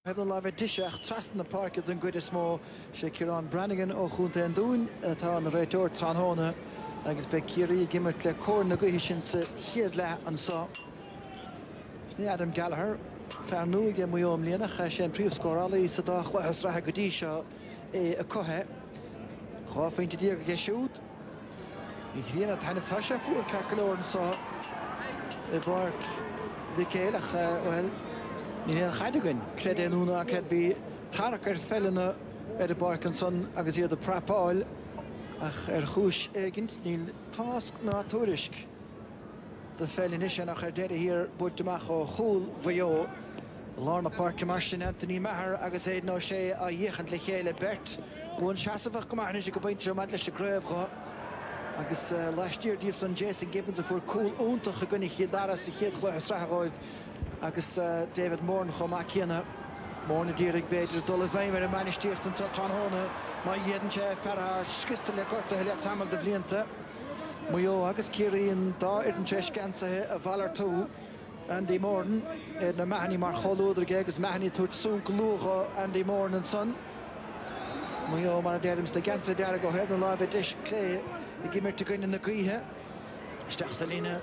Thaobh na láimhe deise trasna na páirce den gcuid is mó, is é Ciarán Branagan ó Chontae an Dúin atá ina réiteoir tráthnóna agus beidh Ciarraí ag imirt le cóir na gaoithe sin sa chéad leath anseo. Sin é Adam Gallagher, fear nua aige Maigh Eo i mbliana, ach is é an príomhscórálaí sa dá chluiche sraithe go dtí seo, é acu. Dhá phointe déag aige siúd. An ghrian ag taitneamh tá sé fuar ceart go leor anseo i bPáirc Mhic Éil ach bhuel níl aon chaid againn creid é nó ná creid bhí tarrac ar pheileanna ar an bpáirc ansan agus iad ag prapáil ach ar chúis éigint níl tásc ná tuairisc de pheil anois ach ar deireadh thiar buailte amach ó chúl Mhaigh Eo. I lár na páirce mar sin Anthony Maher agus Aidan O'Shea ag féachaint le chéile, beirt buanseasmhach go maith anois ag an bpointe seo maidir leis an gcraobh agus laistiar díobhsan Jason Gibbons a fuair cúl iontach i gcoinne Chill Dara sa chéad chluiche sraithe dhóibh agus David Moran chomh maith céanna. Moran a d'iarraidh b'fhéidir dul i bhfeidhm ar an mbainistíocht anseo tráthnóna má dhéanann sé fear atá scriosta le gortuithe le tamall de bhlianta. Maigh Eo agus Ciarraí an dá fhoireann tar éis geansaithe a mhalartú. Andy Moran Aidan O'Mahony mar chomhluadar aige agus Mahony ag tabhairt sonc luath dho Andy Moran ansan. Maigh Eo mar a deirim sna geansaithe dearga ó thaobh na láimhe deis clé ag imirt i gcoinne na gaoithe. Isteach sa líne.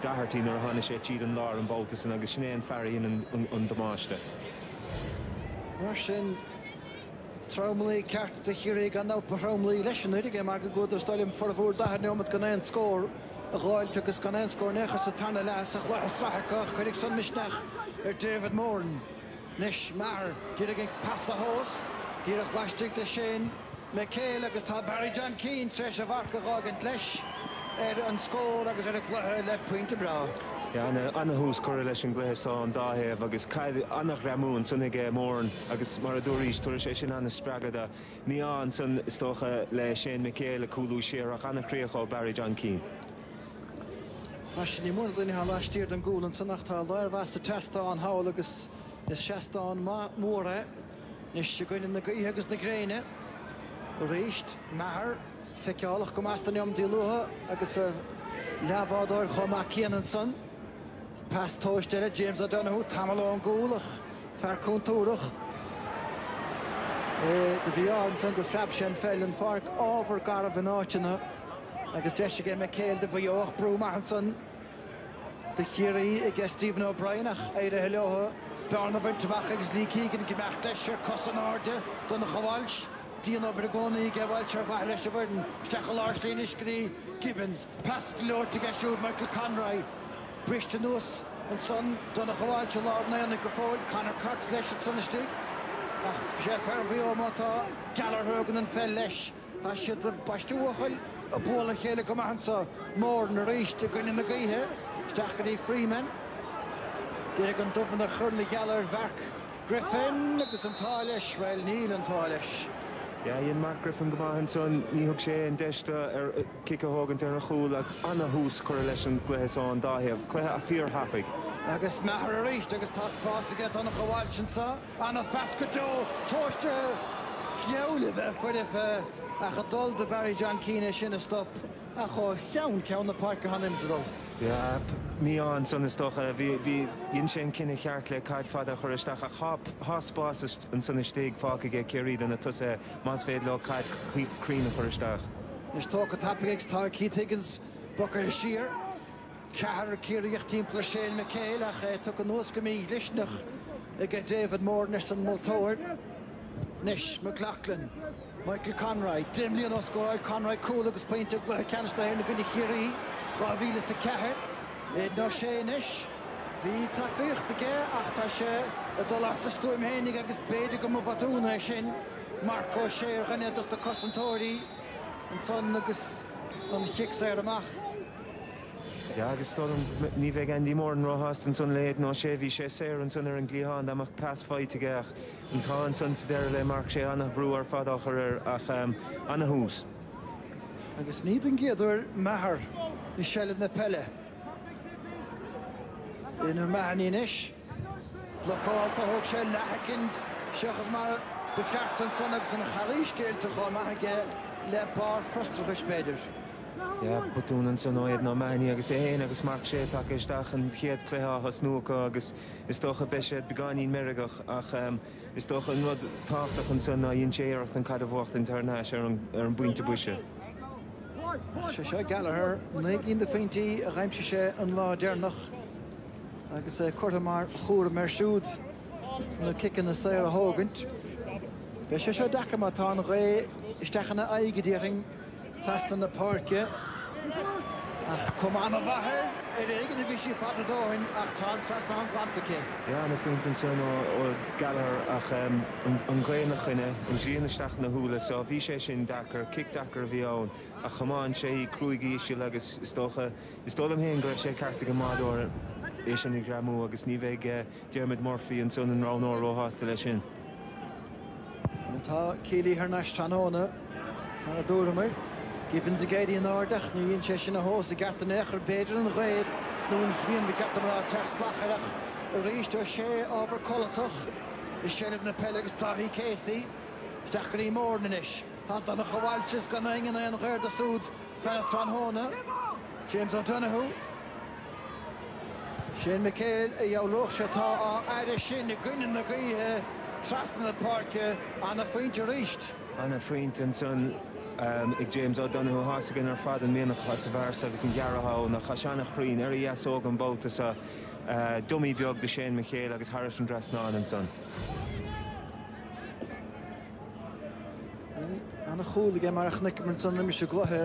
Doherty nuair a tháinig sé tríd an lár an babhta san agus sin é an fear a dhein an damáiste. Mar sin, tromluí ceart do Chiarraí ar ndóigh ba thromluí leis anuraidh é mar go gcuadar is dóigh liom formhór daichead neomat gan aon scór a dh'fháilt agus gan aon scór in aon chor sa tarna leath sa chluiche sraithe ach cuirfidh san misneach ar David Moran. Anois Maher a d'iarraidh an pas a thomhas, díreach laistigh de Shane McHale agus tá Barry John Keane tar éis a mharc a dh'fhágaint leis ar an scór agus ar an gcluiche le pointe breá. Ana-thús curtha leis an gcluiche seo an dá thaobh agus cad ana-ghreamú ansan ag Moran agus mar a dúraís tabharfaidh sé sin ana-spreagadh mí-ádh ansan is dócha le Shane McHale ag cúlú siar ach ana-chríoch ó Barry John Keane. Mar sin, níl mórán daoine a théann laistiar den gcúl ansan ach tá lear maith sa tseastán thall agus is seastán maith mór é anois i gcoinne na gaoithe agus na gréine arís. Maher, feiceálach go maith sna neomataí luatha agus a leathbhádóir chomh maith céanna ansan. Pas tomhaiste eile, James O'Donoghue, tamall ón gcúl ach fear contúrthach é do bhí ann ansan gur phreab sé an pheil den pháirc. Ábhar garbh in áiteanna. Agus deis aige McHale do Mhaigh Eo ach brú maith ansan do Chiarraí aige Stephen O'Brien ach éirithe leo bearna a bhaint amach agus Lee Keegan ag imeacht leis ar cosa in airde. Donncha Walsh, dian-obair i gcónaí aige Walsh ar mhaithe leis an bhfoireann. Isteach i lár slí anois go dtí Gibbons. Pas gleoite aige siúd, Michael Conroy. Briste anuas ansan, Donncha Walsh i lár an aonaigh go fóill, Conor Cox leis ansan istigh. Ach is é fear Mhaigh Eo mar atá Gallagher a thugann an pheil leis. Tá siad ag baisteadh Bhuachaill ag bualadh a chéile go maith anseo, Moran arís i gcoinne na gaoithe, isteach go dtí Freeman. D'fhéadfadh an dubh a chur ina gheal ar Mhark Griffin agus an t-ádh leis, bhuel, níl an t-ádh leis. Dhein Mark Griffin go maith ansan, ní thug sé an deis do fhear cic a thógaint ar an chúl ach an-thús curtha leis an gcluiche so ón dá thaobh, cluiche fíorthapaidh. Agus Maher arís agus tá spás aige, Donncha Walsh anseo. Ana-phas go deo tomhaiste air. Geall le bheith foirfe ach ag dul do Barry John Keane é sin a stop ach ó cheann ceann na páirce go hanamúil. Yep. Ní ansan is dócha. Bhí, bhí, dhein sé an cinneadh cheart le caid fada a chur isteach ach thá, thá spás ansan istigh fágtha aige Ciarraí do na tosaithe más féidir leo caid cruinn a chur isteach. Anois tógtha tapaidh ag Keith Higgins, bogtha siar. Ceathrar Ciarraíoch timpeall Shane McHale ach é tugtha anuas go mídhlisteanach ag David Moran, arsa an moltóir. Anois, McLaughlin, Michael Conroy. Deich mbliana ó scóráil Conroy cúl agus pointe i gCluiche Ceannais na hÉireann i gcoinne Chiarraí i 2004, Aidan O'Shea anois. Bhí tacaíocht aige ach tá sé ag dul as a stuaim fhéinig agus b'fhéidir go mba bhotún é sin. Marc Ó Sé ar dhuine dos na cosantóirí ansan agus an chic saor amach. Sea, agus is dóigh liom ní bheidh Andy Moran róshásta ansan le hAidan O'Shea, bhí sé saor ansan ar an gcliathán dá mbeadh pas faighte aige ach an t-ádh ansan sa deireadh le Marc Sé an-bhrú ar fad á chur air ach an-thús. Agus ní den gcéad uair Maher i seilbh na peile. O'Mahony anois. Blocáilte, thóg sé leathshoicind, seachas mar ba cheart ansan agus an chalaois déanta chomh maith aige le barr frustrachais, b'fhéidir. Yeah, botún ansan ó Aidan O'Mahony agus é féin agus Marc Sé tagtha isteach an chéad cluiche á thosnú acu agus is dócha beidh siad beagáinín meirgeach ach is dócha an rud tábhachtach ansan ná dhein sé iarracht an caid a bhuachtaint thar n-ais ar an bpointe boise. Is é seo Gallagher, naoi gcinn de phointí a d'aimsigh sé an lá deireanach. Agus é curtha mar chúram air siúd na ciceanna saora a thógaint, beidh sé seo deacair má tá an ghaoth isteach ina aghaidh, a déarfainn, trasna na páirce. Ach cuma an-mhaith air, ar éigean a bhí sí fada a dhóthain ach tá an trasnán glanta aici. Ana-phointe ansin ó Gallagher ach an ghaoth ina choinne, an ghrian isteach ina shúile so bhí sé sin deacair. Cic deacair a bhí ann ach chomáin sé í cruaidh íseal agus is dócha, Is dóigh liom féin go raibh sé ceart ag an mbáideoir é sin a ghreamú agus ní bheidh Diarmuid Murphy, ansan ina roghnóir, róshásta leis sin. Má tá Kealy thar n-ais tráthnóna, mar a dúramar, Gibbons ag éirí in airde ach ní dheineann sé sin a thomhas i gceart in aon chor. B'fhéidir an ghaoth nó an ghrian ba cheart dom a rá ag teacht salach air ach arís is é ábhar codlatach i seilbh na peile agus Dáithí Casey isteach go dtí Moran anois. Tá Donncha de Bhailt is gan éinne in aon ghaobhar dó súd. Pheil tráthnóna, James O'Donoghue, Shane McHale a dheabhródh sé atá á fhaire sin i gcoinne na gaoithe trasna na páirce, an-phointe arís. An-phointe ansan ag James O'Donoghue, tá a fhios againn ar fad an mianach atá sa bhfear so agus an gearradh atá ann ach tá sé an-chruinn ar a dheasóg an babhta seo. Dummy beag do Shane McHale agus thairis an dtrasnán ansan. Ana chúl aige mar a chonaiceamar ansan roimis an gcluiche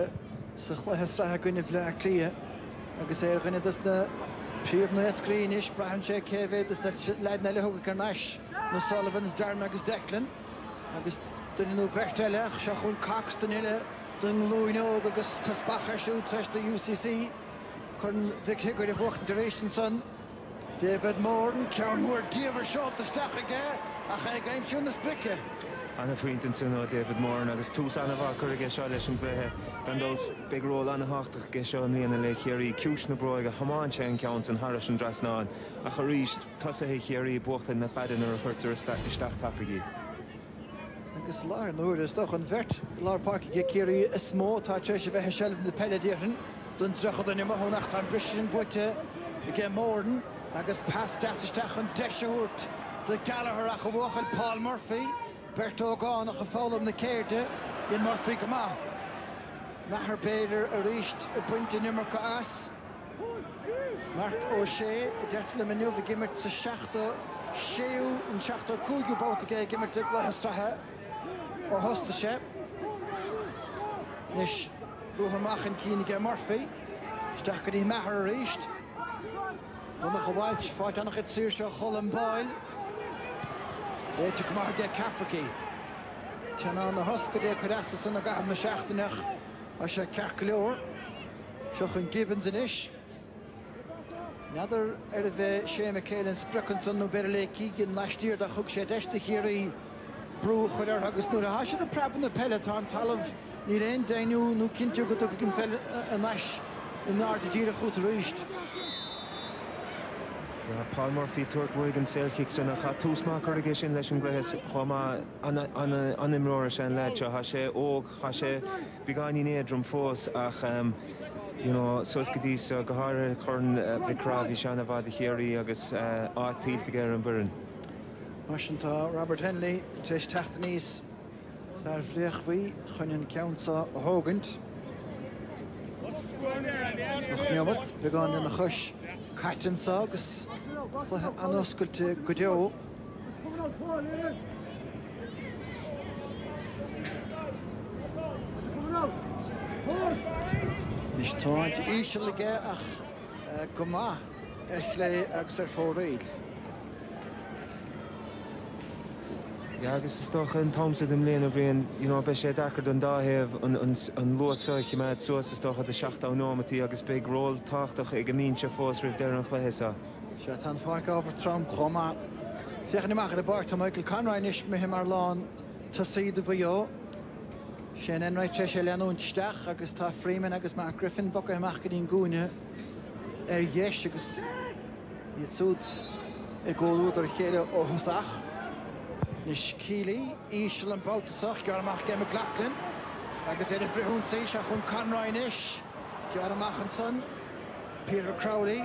sa chluiche sraithe i gcoinne Bhleá Cliath agus é ar dhuine dos na príomh naoscairí anois. Braitheann sé cé mhéad dos na leaideanna eile a thiocfaidh thar n-ais, na Sullivans, Darran agus Declan, agus duine nó beirt eile ach seo chugainn Cox, duine eile den nglúin óg agus teaspach air siúd tar eis do UCC Corn Mhic Shigiúir a bhuachtaint arís ansan. David Moran, ceann mór diamhair seolta isteach aige ach é ag aimsiú na sprice. Ana-phointe ansin ó David Moran agus tús ana-mhaith á chur aige seo leis an gcluiche. Gan dabht, beidh ról ana-thábhachtach aige seo i mbliana le Ciarraí. Ciumhais na bróige, chomáin sé an ceann san thairis an dtrasnán ach arís, tosaithe Chiarraí ag buachtaint na caide nuair a chuirtear isteach tapaidh í. Agus i láthair na huaire, is dócha, an bheirt i lár páirce ag Ciarraí is mó atá tar éis a bheith i seilbh na peile, déarfainn, don 30 duine amuigh ann ach tá an briseadh sin buaite ag Moran agus pas deas isteach chun deis a thabhairt do Gallagher ach a bhuachaill Paul Murphy, beirt ógánach ag foghlaim na ceirde, dhein Murphy go maith. Maher b'fhéidir arís ag baint an iomarca as. Marc Ó Sé a deirtear liom inniu ag imirt sa 76ú nó 75ú babhta aige ag imirt i gcluiche sraithe ó thosaigh sé. Anois ruathar amach chun cinn aige Murphy. Isteach go dtí Maher arís. Donncha de Bhailt, ag fáilt ana chuid saoirse ó Cholm Boyle. Léite go maith aige Cafferkey. Teannán na hioscaide ag cur as dó san i gcaitheamh na seachtaine ach tá sé ceart go leor. Seo chun Gibbons anois. N'fheadar arbh é Shane McHale an sprioc ansan nó b'fhéidir Lee Keegan laistiar de, thug sé deis do Chiarraí brú a chur orthu agus nuair atá siad ag preabadh na peile atá an talamh níl aon deimhniú nó cinntiú go dtiocfaidh an pheil thar n-ais in airde díreach chút arís. Paul Murphy, ag tabhairt uaidh an saorchic san ach tá tús maith curtha aige sin leis an gcluiche chomh maith. An-imreoir is ea an leaid seo. Tá sé óg. Tá sé beagáinín éadrom fós ach you know suas go dtí seo, go háirithe Corn Mhic Craith, bhí sé an-mhaith do Chiarraí agus áit tuillte aige ar an bhfoireann. Mar sin tá Robert Hennelly tar éis teacht aníos, fear Bhréachmhaí, chun an ceann seo a thógaint. Ocht neomat, beagán lena chois, caite anso agus cluiche an-oscailte go deo. Is tiomáint íseal aige ach go maith ar chlé agus ar fóraoil. Yeah agus is dócha an t-am sa den mbliain a bhíonn you know beidh sé deacair don dá thaobh an an luas seo a chimeád suas is dócha do 70 nóimeataí agus beidh ról tábhachtach ag an mbinse fós roimh deireadh an chluiche so. Sea, tá an pháirc ábhar trom chomh maith. Féachaint amach ar an bpáirc tá Michael Conroy anois imithe mar lántosaí do Mhaigh Eo. Shane Enright tar éis é leanúint isteach agus tá Freeman agus Mark Griffin bogtha amach go dtí an gcúinne ar dheis agus iad súd i gcomhluadar a chéile ó thosach. Anois Kealy íseal an babhta seo, gearrtha amach ag McLoughlin agus ar an bhfrithionsaí seo chun Conroy anois, gearrtha amach ansan Peter Crowley.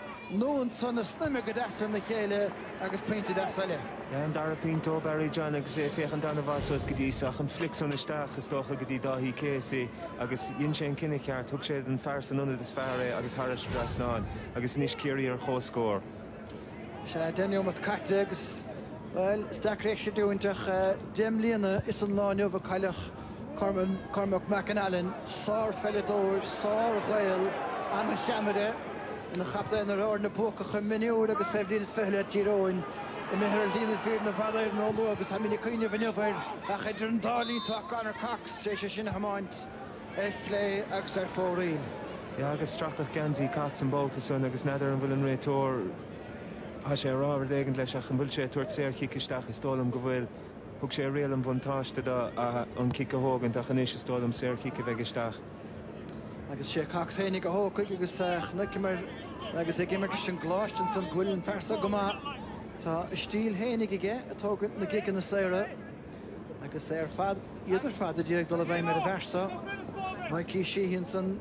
Iad san ag snaidhmeadh go deas ina chéile agus pointe deas eile. An dara pointe ó Barry John agus é ag féachaint an-mhaith suas go dtí seo. An flic san isteach, is dócha go dtí Dáithí Casey agus dhein sé an cinneadh ceart, thug sé don fear san ionad is fearr é agus thairis an trasnán agus anois Ciarraí ar chomhscór. Sea, deich neomat caite agus, bhuel, is deacair é sin a chreidiúint ach deich mbliana is an lá inniu a cailleadh. Cormac McAnallen, sárpheileadóir, sárGhael, an-cheannaire, ina chaptaen ar fhoirne buacacha mionúir agus fé bhliain is fiche le Tír Eoghain. Imithe ar shlí na fírinne i bhfad Éireann róluath agus táimid ag cuimhneamh inniu air. Ach idir an dá linn tá Conor Cox tar éis é sin a thiomáint ar chlé agus ar fóraoil. Yeah agus stracadh geansaí Cox an babhta san agus n'fheadar an bhfuil an réiteoir, tá sé ag rá rud éigin leis ach an bhfuil sé ag tabhairt saorchic isteach, is dóigh liom go bhfuil. Thug sé a riail an bhuntáiste dó an cic a thógaint ach anois is dóigh liom saorchic a bheidh isteach. Agus is é Cox fhéinig a thógfaidh agus chonaiceamar agus ag imirt leis an gColáiste ansan go bhfuil an fear so go maith. Tá a stíl fhéinig aige ag tógaint na gciceanna saora agus é ar fad, iad ar fad a d'iarraidh dul i bhfeidhm ar an bhfear so. Mikey Sheehy ansan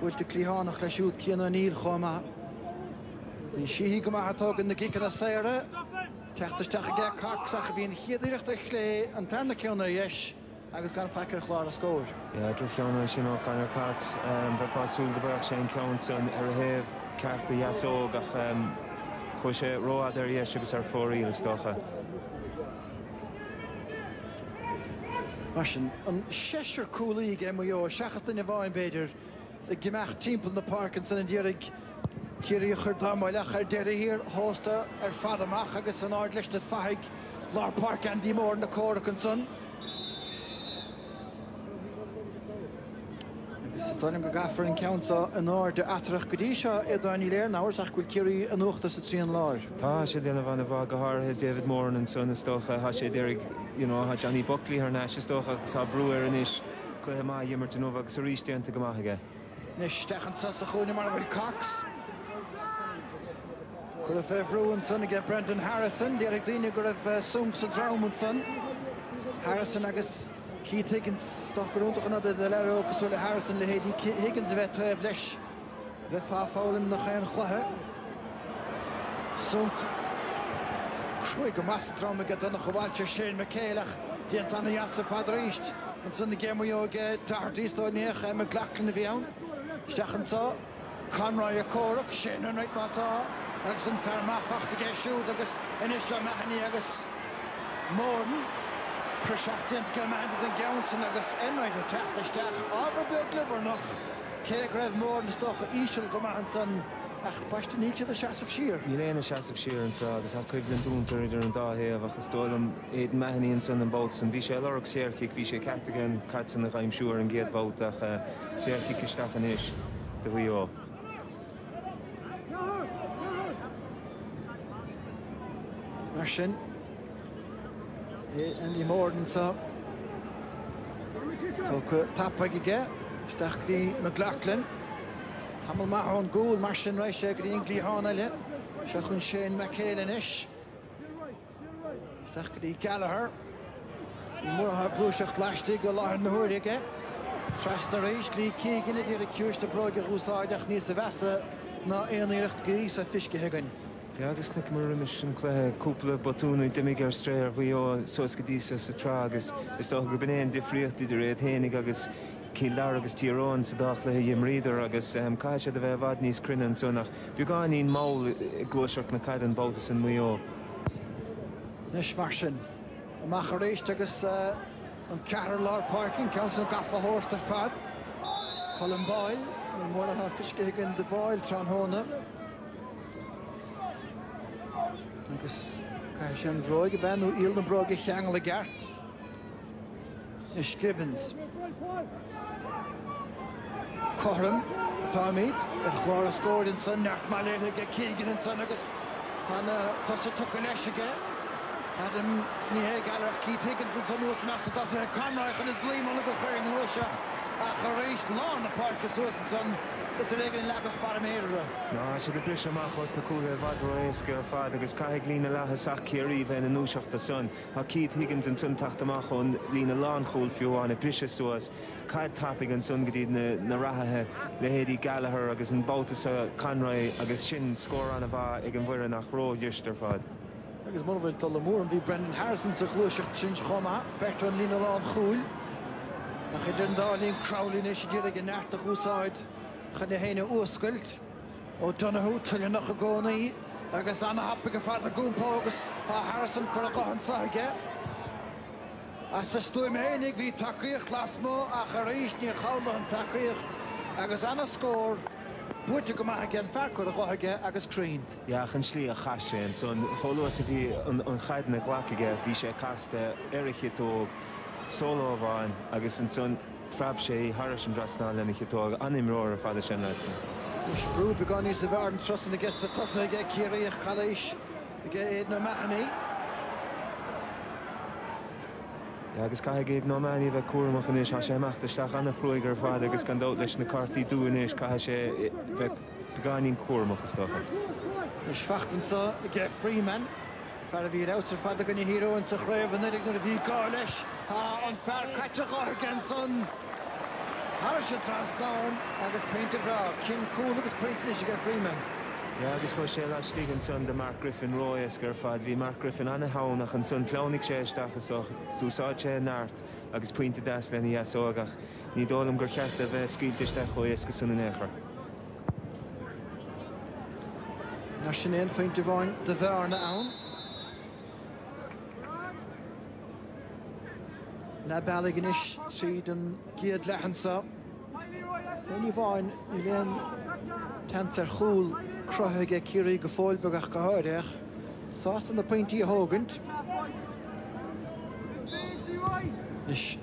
buailte cliathánach leis siúd Cian O'Neill chomh maith. Bhí Sheehy go maith ag tógaint na gciceanna saora. Teacht isteach ag Cox ach bhí an chéad iarracht ar chlé, an tarna ceann ar dheis agus gan faic ar chlár an scóir. Dhá dhrochcheann ansin ó Conor Cox. Bheifeá ag súil go mbéarfadh sé an ceann san ar a thaobh ceart de dheasóg ach chuaigh sé rófhada ar dheis agus ar fóraoil is dócha. Mar sin, an seisear cúlaí ag Maigh Eo, seachas duine amháin, b'fhéidir, Ag imeacht timpeall na páirce ansin a d'iarraidh Ciarraí a chur dá mba leagtha ar deireadh thiar thósta ar fad amach agus san aer leis na fathaigh lár páirce Andy Moran ag comhrac ansan agus is dóigh liom go gcaithfear an ceann seo in airde eatarthu go dtí seo, Aodhán, níl aon amhras ach go bhfuil Ciarraí in uachtar sa trian láir. Tá sé ag déanamh an-mhaith, go háirithe David Moran ansan is dócha, tá sé ag iarraidh, you know, tá Johnny Buckley thar n-ais is dócha agus tá brú air anois, Cluiche maith a dh'imirt inniu agus arís déanta go maith aige. Anois isteach anso sa chúinne mar a bhfuil Cox. Cuireadh fé bhrú ansan aige Brendan Harrison. Déarfadh daoine go raibh sonc sa drom ansan. Harrison agus Keith Higgins. Is dócha gur iontach an rud é do leaid óg cosúil le Harrison leithéidí Higgins a bheith taobh leis. Bheifeá ag foghlaim i ngach aon chluiche. Sonc. Cruaidh go maith sa drom aige Donncha Walshe, Shane McHale ach déanta ana-dheas ar fad arís. Ansan aige Maigh Eo, aige Doherty is dóigh, ní hea, eh, McLaughlin a bhí ann. Isteach anseo. Conroy ag comhrac, Shane Enright má tá agus an fear maith fachta aige siúd agus anois O Mahony agus Moran. Praiseach déanta aige O Mahony don gceann sin agus Enright ag teacht isteach. Ábhar beag liobarnach. Cé go raibh Moran is dócha íseal go maith ansan, ach ambaiste níl siad ag seasamh siar. Níl éinne ag seasamh siar anseo agus tá coimhlint iontach idir an dá thaobh ach is dóigh liom Aidan Mahony ansan an babhta san, bhí sé ag lorg saorchic, bhí sé ceart aige an caid san a dh'aimsiú ar an gcéad bhabhta ach saorchic isteach anois do Mhaigh Eo. Mar sin, Andy Moran, seo tugtha tapaidh aige isteach go dtí McLaughlin. Tamall maith ón gcúl mar sin arís é go dtí an gcliathán eile. Seo chun Shane McHale anois isteach go dtí Gallagher. Ní mór athá ag gluaiseacht laistigh i láthair na huaire aige. Trasna arís, Lee Keegan ag iarraidh ciumhais na bróige a dh'úsáid ach níosa mheasa ná aon iarracht go dtí so feiscithe againn. Agus i nitty-gritty an cluiche cúpla botún a d'imigh ar strae ar Mhaigh Eo suas go dtí seo sa tsraith agus is dócha gurb in é an difríocht idir iad fhéinig agus Cill Dara agus Tír Eoghain sa dá chluiche a d'imríodar agus caithfidh siad a bheith i bhfad níos cruinne anseo nach beagáinín mall ag gluaiseacht na caide an babhta san Maigh Eo. Anois mar sin, amach arís agus an ceathrar lár páirce, an ceann san gafa acu ar fad. Colm Boyle, ní mórán feicthe againn do Boyle tráthnóna. Agus caithfidh sé an bhróg a bheith nó iall na bróige a cheangal i gceart. Is Gibbons cothrom atáimid ar chlár a scóir ansan, beart maith déanta aige, Keegan ansan agus tá na cosa tugtha leis aige, Adam Ní hÉigearach, Keith Higgins ansan thuas i measc na dtosach, Conroy chun a dlí mar ar cuireadh an ghluaiseacht ach arís, lán na páirce suas ansan. Is ar éigin a leagadh barr méire. Tá siad ag briseadh amach ós na cúlaithe i bhfad ró-éasca ar fad agus caithfidh líne leaththosach Chiarraí bheith ina ndúiseacht do san. Tá Keith Higgins ansan teacht amach ón líne lánchúl fiú amháin ag briseadh suas caid tapaidh ansan go dtí na reathaithe, leithéidí Gallagher agus an babhta so Conroy agus sin scór an-mhaith ag an bhfoireann ach ró-fhuirist ar fad. Agus mura bhfuil dul amú orm, bhí Brendan Harrison sa ghluaiseacht sin chomh maith, beirt ón líne lánchúil. Ach idir an dá linn, Crowley anois ag iarraidh a neart a úsáid chun é féin a fhuascailt. O'Donoghue toilleannach i gcónaí agus an-thapaidh ar fad in aon chomhar agus tá Harrison curtha go héasca de aige. As a stuaim fhéinig, bhí tacaíocht lasmuigh ach arís níor chabhraigh an tacaíocht agus an-scór buaite go maith aige, an fear curtha de aige agus cruinn. Ach an tslí a chaith sé ansan, chomh luath is a bhí an chaid ina ghlac aige, bhí sé casta ar a chiotóg, solo amháin, agus ansan phreab sé í thairis an trasnán lena chiotóg. An-imreoir ar fad é Séamas. Ach b'fhéidir beagán níos mó den sórt san aige sa tosaithe aige Ciarraí ach calaois aige Aidan O'Mahony. Agus caithfidh Aidan O'Mahony a bheith cúramach anois, tá sé ag imeacht isteach an-chruaidh ar fad agus gan dabht leis na cártaí dubha anois caithfidh sé bheith Beagáinín cúramach, is dócha. Tá seans anseo aige Freeman. Fear a bhí ar fheabhas ar fad i gcoinne Thír Eoghain sa chraobh anuraidh nuair a bhí gá leis. Tá an fear caite de aige ansan. Thairis an trasnán agus pointe breá. Sin cúl agus pointe anois aige Freeman. Yeah agus chuaigh sé laistigh ansan do Mark Griffin ró-éasca ar fad. Bhí Mark Griffin an-theann ach ansan shleamhnaigh sé isteach is dócha. D'úsáid sé a neart agus pointe deas lena dheasóig ach, Ní dóigh liom gur cheart é bheith scaoilte isteach chomh héasca san in aon chor. Mar sin aon phointe amháin de bhearna ann leath bealaigh anois tríd an gcéad leath anso. Fé ní amháin níl aon tseans ar chúl cruthaithe aige Ciarraí go fóill beag ach go háirithe. Sásta na pointí a thógaint.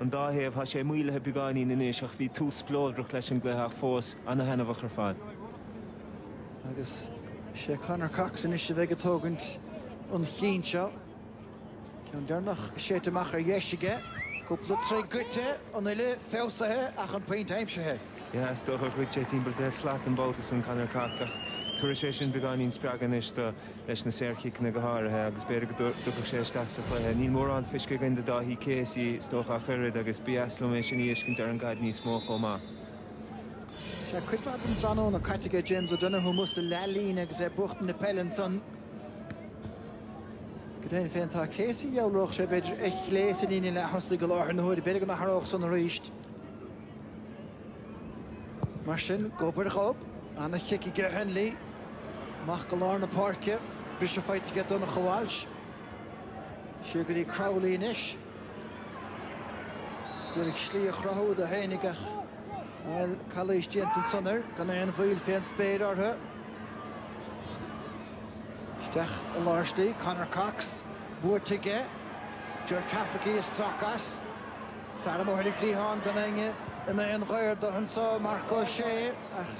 an dá thaobh. Tá sé maolaithe beagáinín anois ach bhí tús spleodrach leis an gcluiche ach fós an-thaitneamhach ar fad. Agus is é Conor Cox anois a bheidh ag tógaint an chinn seo. Ceann deireanach séidte amach ar dheis aige. Cúpla troigh gaibhte, an uille feabhsaithe ach an pointe aimsithe. Is dócha go gcuirfidh sé timpeall deich slat an babhta san Conor Cox ach tabharfaidh sé sin beagáinín spreagadh anois dó. leis na saorchiceanna go háirithe agus b'fhéidir go dtiocfadh sé isteach sa chluiche. Níl mórán feiscithe againn de Dáithí Casey is dócha ach oiread agus ba dheas liom é sin a fheiscint ar an gcaid níos mó chomh maith. Sea, cuid mhaith den tráthnóna caite aige James O'Donoghue amuigh sa leathlíne agus é ag buachtaint na peile ansan. Go deimhin féin, tá Casey, dhealródh sé, b'fhéidir, ar chlé sa líne leath thosaigh i láthair na huaire. B'fhéidir go n-athródh san arís. Mar sin, gob ar ghob, an-chic aige Hennelly amach go lár na páirce, briseadh faighte aige Donncha Walsh. Siar go dtí Crowley anois. D'iarraidh slí a chruthú dó fhéinig ach, bhuel, calaois déanta ansan air, gan aon mhoill fén spéir orthu. Isteach i lár slí, Conor Cox, buaite aige, Ger Cafferkey ag stracadh as. Sara mbóthar ag cliathán gan éinne ina aon ghaor do anseo Marc Ó Sé ach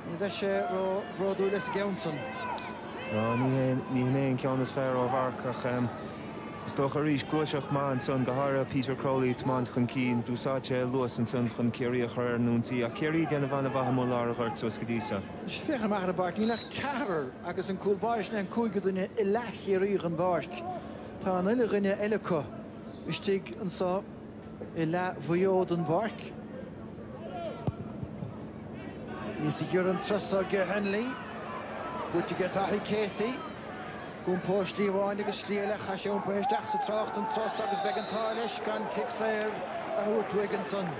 ní bheidh sé ró bhródúil as an gceann san. Ná ní hé ní hé an ceann is fearr ó Mharc ach is dócha arís gluaiseacht maith ansan, go háirithe Peter Crowley ag tiomáint chun cinn. D'úsáid sé a luas ansan chun Ciarraí a chur ar an ionsaí ach Ciarraí ag déanamh ana mhaith amuigh i lár an ghoirt suas go dtí so. Anois féachaint amach ar an bpáirc, níl ach ceathrar agus an cúl báire sin é an cúigiú duine i leath Chiarraí den bpáirc. Tá an uile dhuine eile acu. istigh anso i leath Mhaigh Eo den bpáirc. Níos giorra an turas so aige Hennelly. Buaite aige Daithí Casey. Ag iompó ar shlí amháin agus slí eile chaith sé iompaithe isteach sa trácht an turas so agus beidh an t-ádh leis gan cic saor a thabhairt uaidh ansan.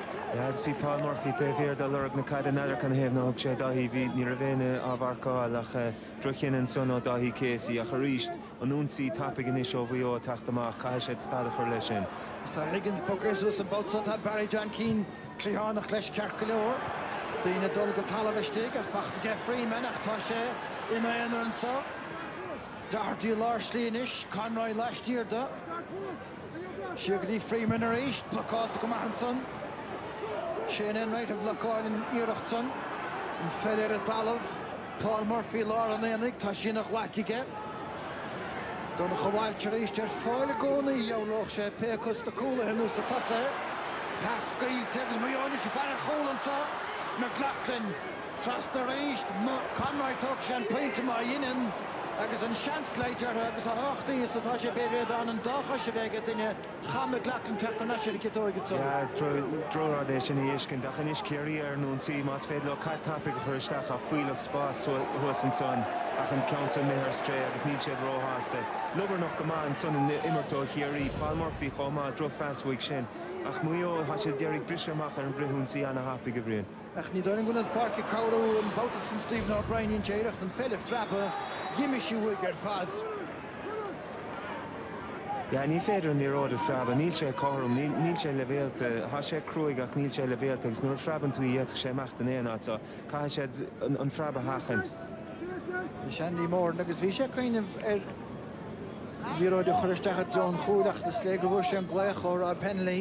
Agus bhí Paul Murphy taobh thiar de lorg na caide in adharca na haoibhne a thug sé. Daithí, bhí, ní raibh éinne á mharcáil ach droch-chinneadh ansan ó Dhaithí Casey ach arís, an ionsaí tapaidh anois ó Mhaigh Eo ag teacht amach, caithfidh siad stad a chur leis sin. Tá Higgins bogtha suas an babhta seo, tá Barry John Keane cliathánach leis ceart go leor, daoine ag dul go talamh istigh ach faighte aige Freeman ach tá sé ina aonar anseo. Doherty i lár slí anois, Conroy laistiar de. Siar go dtí Freeman arís, blocáilte go maith ansan. Shane Enright a bhlocáil an iarracht san. An pheil ar an talamh, Paul Murphy lár an aonaigh, tá sí ina ghlaic aige. Donnchadh Walsh arís ar fáil i gcónaí, dhealródh sé pé acu sna cúlaithe nó sa tosaithe. Pas scaoilte agus Mayo anois i bhfear an chúil ansan, McLaughlin. Trasna arís, Conroy Turks an pointe má dheineann agus an seans leid uirthi agus a thráchtaí is atá sé beidh réad ann an dá chois a bheith aige duine cham a ghlacann ceacht an aiseirí go dtóige san. Droch rud é sin a fheiscint ach anois Ciarraí ar an ionsaí más féidir leo caid tapaidh a chur isteach tá fuílleach spás thuas ansan ach an ceann san imithe ar strae agus níl siad ró-shásta. Liobarnach go maith ansan an imirt ó Chiarraí, Paul Murphy chomh maith, droch phas uaidh sin ach Maigh Eo tá siad ag iarraidh briseadh amach ar an bhfrithionsaí ana-thapaidh a Bhriain. Ach ní dóigh an gcuirfidh Páirc Caorú an babhta san Stephen O'Brien dhein sé iarracht an pheil a phreabadh dh'imigh sí uaidh ar fad. Yeah, ní féidir an liathróid a phreabadh, níl sé cothrom, níl, níl sé leibhéalta, tá sé cruaidh ach níl sé leibhéalta agus nuair a phreabann tú í d'fhéadfadh sé imeacht in aon áit so caithfidh siad an, an phreab a sheachaint. Bhí sí ag Andy Moran agus bhí sé ag cuimhneamh ar liathróid a chur isteach i dtreo an chúil ach is léir go bhfuair sé an glaoch ó Rob Hennelly.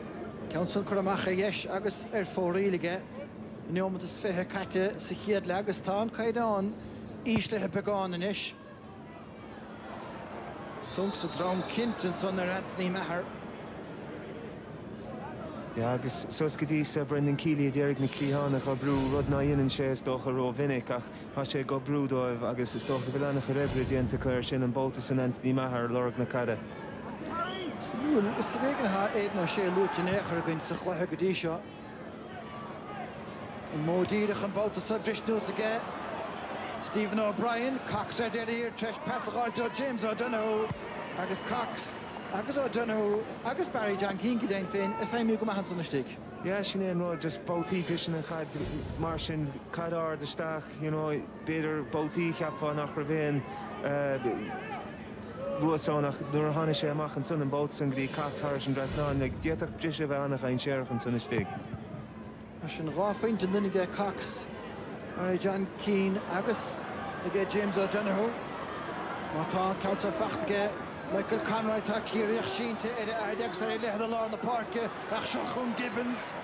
Ceann san curtha amach ar dheis agus ar fóraoil aige. Aon neomat is fiche caite sa chéad leath agus tá an caighdeán íslithe beagán anois. Sonc sa drom cinnt ansan ar Anthony Maher. Yeah agus suas go dtí so Brendan Kealy ag iarraidh na cliatháin a dh'oibriú, rud ná dhéanann sé is dócha ró-mhinic ach Tá sé ag oibriú dóibh agus is dócha go bhfuil an-chuid oibre déanta acu air sin, an babhta san Anthony Maher ar lorg na caide. Is ar éigean atá Aidan O'Shea luaite in aon chor againn sa chluiche go dtí seo. An modh díreach an babhta so, bhris anuas aige Stephen O'Brien. Cox ar deireadh thiar tar éis pas a dh'fháil ó James O'Donoghue agus Cox agus O'Donoghue agus Barry John Keane go deimhin féin ag feidhmiú go maith ansan istigh. Yeah, sin é an rud, just babhtaí pasanna, caid, mar sin, caid ard isteach, you know, b'fhéidir babhtaí cheapfá nach raibh aon eh, réasún ach, nuair a tháinig sé amach ansan an babhta san go dtí Cox thairis an dtrasnán, like, d'fhéadfadh briseadh a bheith an-dhainséarach ansan istigh. Mar sin, dhá phointe an duine aige Cox, Barry John Keane agus aige James O'Donoghue. Má tá an ceann seo fachta aige, Michael Conroy Tá Ciarraíoch sínte ar a fhaid agus ar a leithead i lár na páirce ach seo chugainn Gibbons.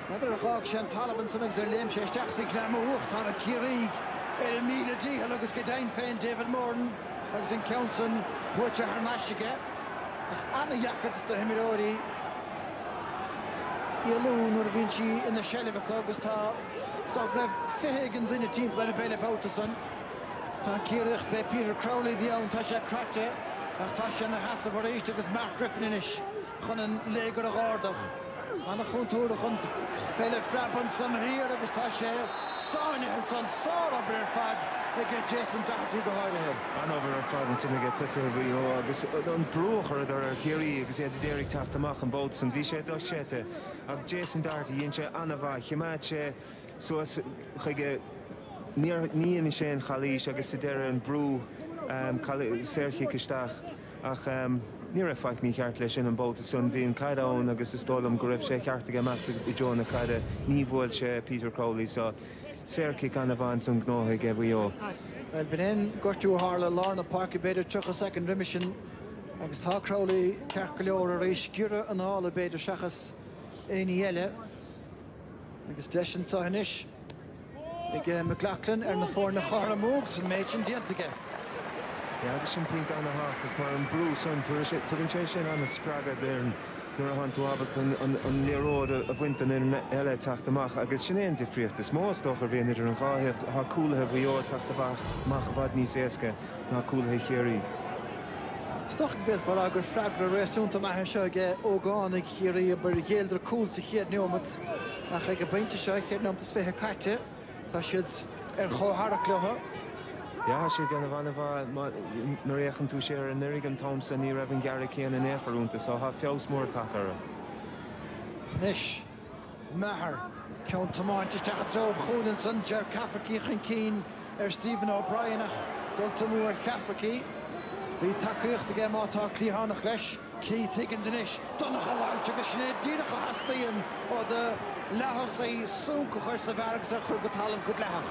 N'fheadar ar dh'fhág sé an talamh ansan agus ar léim sé isteach sa ghreamú ach Tá na Ciarraígh ar a míle dícheall agus go deimhin féin David Moran agus an ceann san buaite thar n-ais aige ach ana-dheacair do na himreoirí éalú nuair a bhíonn sí ina seilbh acu agus cheapfá go raibh fiche éigin duine timpeall ar an bpeil an babhta san. Tá Ciarraíoch fé Peter Crowley a bhí ann, tá sé craite ach tá sé ina sheasamh arís agus Mark Griffin anois chun an léigear a dh'árdach. Ana chúntúrtha chun fé le phreab ansan thiar agus tá sé sáinnithe ansan. Sár obair ar fad aige Jason Doherty go háirithe. An-obair ar fad ansan aige tosaithe Mhaigh Eo agus an brú a chuireadar ar Chiarraí agus iad a d'iarraidh teacht amach an babhta san. Bhí sé do-chreidte ach Jason Doherty dhein sé ana-mhaith. Chimeád sé. suas chuige. Ní dhein sé aon chalaois agus sa deireadh an brú saorchic isteach ach ní raibh faic mícheart leis sin an babhta san. Bhí an chaid ann agus is dóigh liom go raibh sé ceart aige imeacht i dtreo na caide. Ní bhuail sé Peter Crowley so saorchic an-mhaith ansan gnóthaithe ag Maigh Eo. Bhuel, b'in é an gortú a tharla i lár na páirce b'fhéidir 30 soicind roimhe sin agus tá Crowley ceart go leor arís. Giorra anála b'fhéidir seachas éinní eile. Agus deis anseo anois ag McLoughlin ar na foirne a chothromú agus an méid sin déanta aige. Agus an pointe ana thábhachtach mar an brú san tugann sé sin ana spreagadh d'fhoireann nuair a thann tú ábalta an liathróid a bhaint den fhoireann eile teacht amach agus sin é an difríocht is mó is dócha a bhíonn idir an dhá thaobh. Tá cúlaithe Mhaigh Eo ag teacht amach i bhfad níos éasca ná cúlaithe Chiarraí. Is dócha go bhféadfá a rá gur freagra réasúnta maith é seo ag ógánaigh. Chiarraí abair ghéilleadar cúl sa chéad neomat ach ag an bpointe seo, ceithre nóimeat is fiche caite, tá siad ar chomhtharrac leo. Yeah, tá siad ag déanamh an-mhaith. Nuair a fhéachann tú siar ar anuraidh an t-am seo, ní raibh an gearradh céanna in aon chor iontu so tá feabhas mór tagtha orthu. Anois. Maher, ceann tiomáinte isteach i dtreo an chúil ansan, Ger Cafferkey chun cinn ar Stephen O'Brien ach dul tumadh ar Cafferkey. Bhí tacaíocht aige má tá cliathánach leis. Keith Higgins anois, Donncha Walsh agus sin é díreach a theastaíonn ó do leath-thosaí, súnc a chur sa bhfear agus a chur go talamh go dleathach.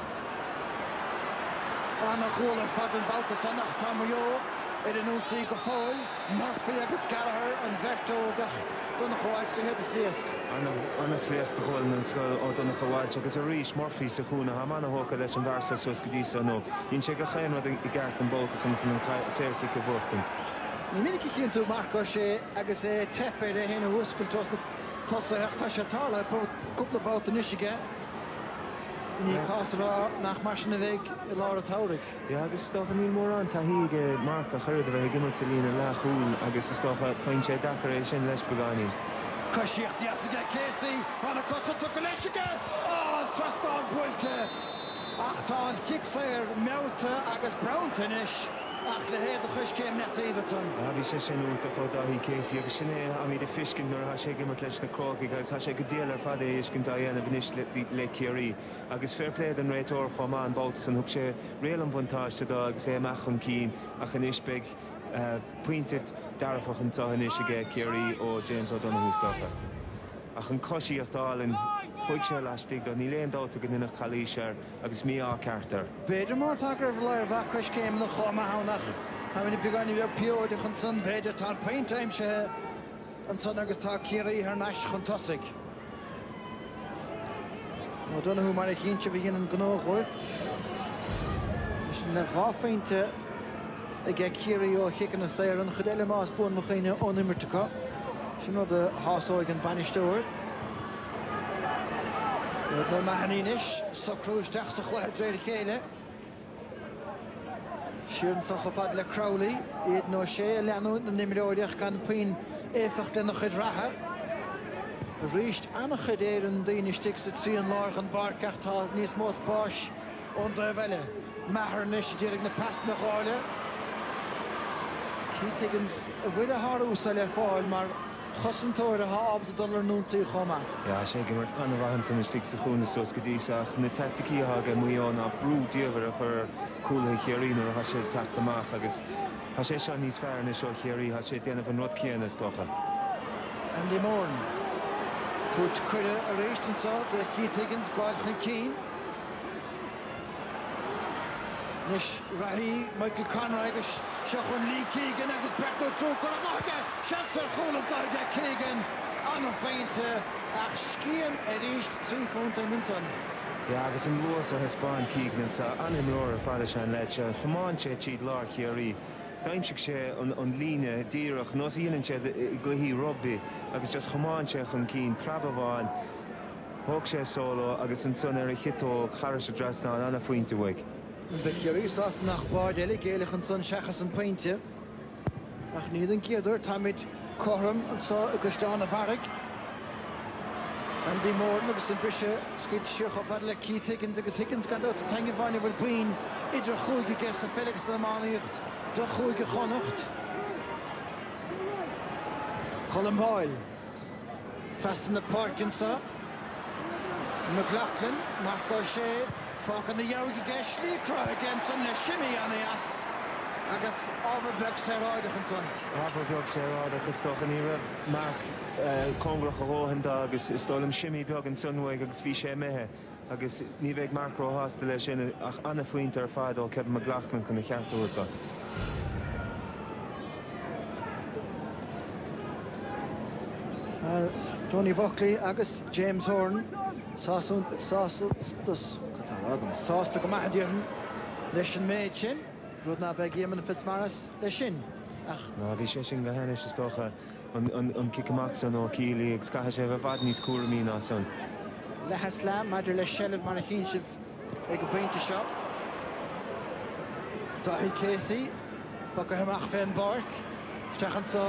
An-ghualainn ar fad an babhta san ach tá Maigh Eo ar an ionsaí go fóill. Murphy agus Gallagher, an bheirt óg ach Donncha Walsh go héad a phléasc. Ana phléasc de ghualainn a scaoil ó Donncha Walsh agus arís Murphy sa chúinne táim ana thógtha leis an bhfear seo suas go dtí seo inniu dhein sé gach aon rud i gceart an babhta san chun an saor chic a bhuachtaint. Ní minic a chíonn tú Marc Ó Sé agus é ag teip air é féin a fhuascailt ós na tosaithe ach tá sé tarlaithe cúpla babhta anois aige. Ní cás a rá nach mar sin a bheidh i lár an tsamhraidh. Yeah agus is dócha níl mórán taithí ag Marc ach oiread a bheith ag imirt sa líne leathchúil agus is dócha faigheann sé deacair é sin leis beagáinín. Coisíocht dheas aige Casey, tá na cosa tugtha leis aige, an trasnán buailte ach tá an chic saor meallta agus bronnta anois ach le héad a choiscéim Matt Davidson. Ah bhí sé sin iontach ó Dáithí Casey agus sin é atáimid ag feiscint nuair atá sé ag imirt leis na Crócaigh agus tá sé go diail ar fad é a fheiscint á dhéanamh anois le Ciarraí. Agus fair play don réiteoir chomh maith an babhta san, thug sé riail an bhuntáiste do agus é amach chun cinn ach anois beidh pointe dearfach anseo anois aige Ciarraí ó James O'Donoghue is dócha. Ach an coisíocht álainn chuaigh sé laistigh do, níl aon dabht ag an Fhianach calaois air agus mí-ádh ceart air. B'fhéidir má tá gurbh lé ar bheadh coiscéimeanna chomh maith ann ach tá mé beagáinín bheag pióideach ansan, b'fhéidir. Tá an pointe aimsithe ansan agus tá Ciarraí thar n-ais chun tosaigh. O'Donoghue mar a dheineann, ba dhéanann gnó dhóibh. Sin dhá phointe aige Ciarraí ó chiceanna saora, an chuid eile más buan mo chuimhne ón imirt acu. Sin rud a shásóidh an bainisteoir. O'Mahony anois, socrú isteach sa chluiche de réir a chéile. Siar anseo chomh fada le Crowley, Aidan O'Shea ag leanúint na n-imreoirí ach gan puinn éifeacht lena chuid reatha. Arís an-chuid daoine istigh sa trian láir den bpáirc ach tá níos mó spáis ón dtaobh eile. Maher anois ag iarraidh na pasanna a dháileadh. Keith Higgins an bhfuil a shárú-sa le fáil mar. chosantóir atá ábalta dul ar an ionsaí chomh maith. Tá sé ag imirt an-mhaith ansan istigh sa chúinne suas go dtí seo ach na teaicticí atá aige Maigh Eo ná brú diamhair a chur ar chúlaithe Chiarraí nuair atá siad ag teacht amach agus tá sé seo níos fearr anso ó Chiarraí. Tá sé ag déanamh an rud céanna, is dócha. Andy Moran. Tabhairt cuireadh arís anso do Keith Higgins gabháil chun cinn. Anois reathaí Michael Conroy agus seo chun Lee Keegan agus breathnú trócaire a ghuth aige! Seans ar chúl anseo aige Keegan, an-phointe ach scian arís trí phunt ime ansan. Yeah agus an luas a thaispeáin Keegan anseo, an-imreoir ar fad is ea an leaid seo. Thiomáin sé tríd lár Chiarraí, d'aimsigh sé an líne díreach, nós a dhéanann siad i gcluichí rugbaí agus just thiomáin sé chun cinn, preab amháin, Thóg sé solo agus ansan ar a chiotóg thar an dtrasnán an-phointe uaidh. Bhí Ciarraí sásta nach báide eile a géilleadh ansan seachas an pointe. Ach ní den gcéad uair táimid cothrom anso i gCaisleán a' Bharraigh. Andy Moran agus an briseadh scaoilte siar chomh fada le Keith Higgins agus Higgins gan dabht an t-aon amháin a bhfuil boinn idir chúige aige sa pheil agus san iománaíocht do Chúige Chonnacht. Colm Boyle. Trasna na páirce anseo. McLaughlin, Marc Ó Sé, fágtha na dhiaidh aige, slí cruthaithe aige ansan le shimmy ana-dheas agus ábhar beag saoráideach ansan. Ábhar beag saoráideach is dócha, ní raibh Marc cóngarach a dhóthain do agus is dóigh liom shimmy beag ansan uaidh agus bhí sé imithe. Agus ní bheidh Marc róshásta leis sin ach an-phointe ar fad ó Kevin McLoughlin chun a cheart a thabhairt dó. Tony Buckley agus James Horan sásta go maith a déarfainn leis an méid sin, rud nach mbeidh Éamonn Fitzmaurice leis sin ach. Ná bhí sé sin go hainnis is dócha. an cic amach san ó Kiely agus caithfidh sé a bheith i bhfad níos cúramaí ná san. Leath is leath maidir le seilbh mar a chíonn sibh ag an bpointe seo. Daithí Casey, puc a amach fé an bpáirc, isteach anso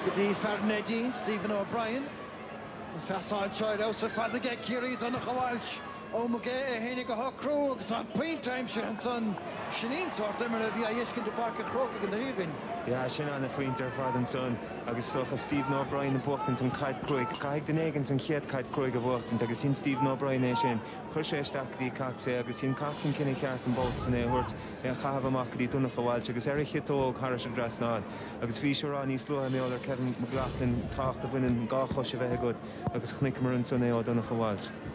go dtí fear Neidín, Stephen O'Brien. An phasáil seo ar fheabhas ar fad aige Ciarraí, Donncha Walsh. Omg é tháinig go cruaidh agus an pointe aimsithe ansan. Sin an sórt imeartha a bhí á fheiscint i bPáirc an Chrócaigh an oíche ó shin. Yeah, sin ana phointe ar fad ansan agus is dócha Stephen O'Brien ag buachtaint an caid cruaidh. Caithfidh duine éigint an chéad caid cruaidh a bhuachtaint agus dhein Stephen O'Brien é sin. Chuir sé isteach go dtí Cox é agus dhein Cox an cinneadh ceart an babhta san é a thabhairt, é a chaitheamh amach go dtí Donncha Walsh agus ar a chiotóg tharais an dtrasnán agus bhíos á rá níos luaithe mar gheall ar Kevin McLoughlin tábhacht a bhaineann dhá chois a bheith agat agus chonaiceamar ansan é ó Donncha Walsh.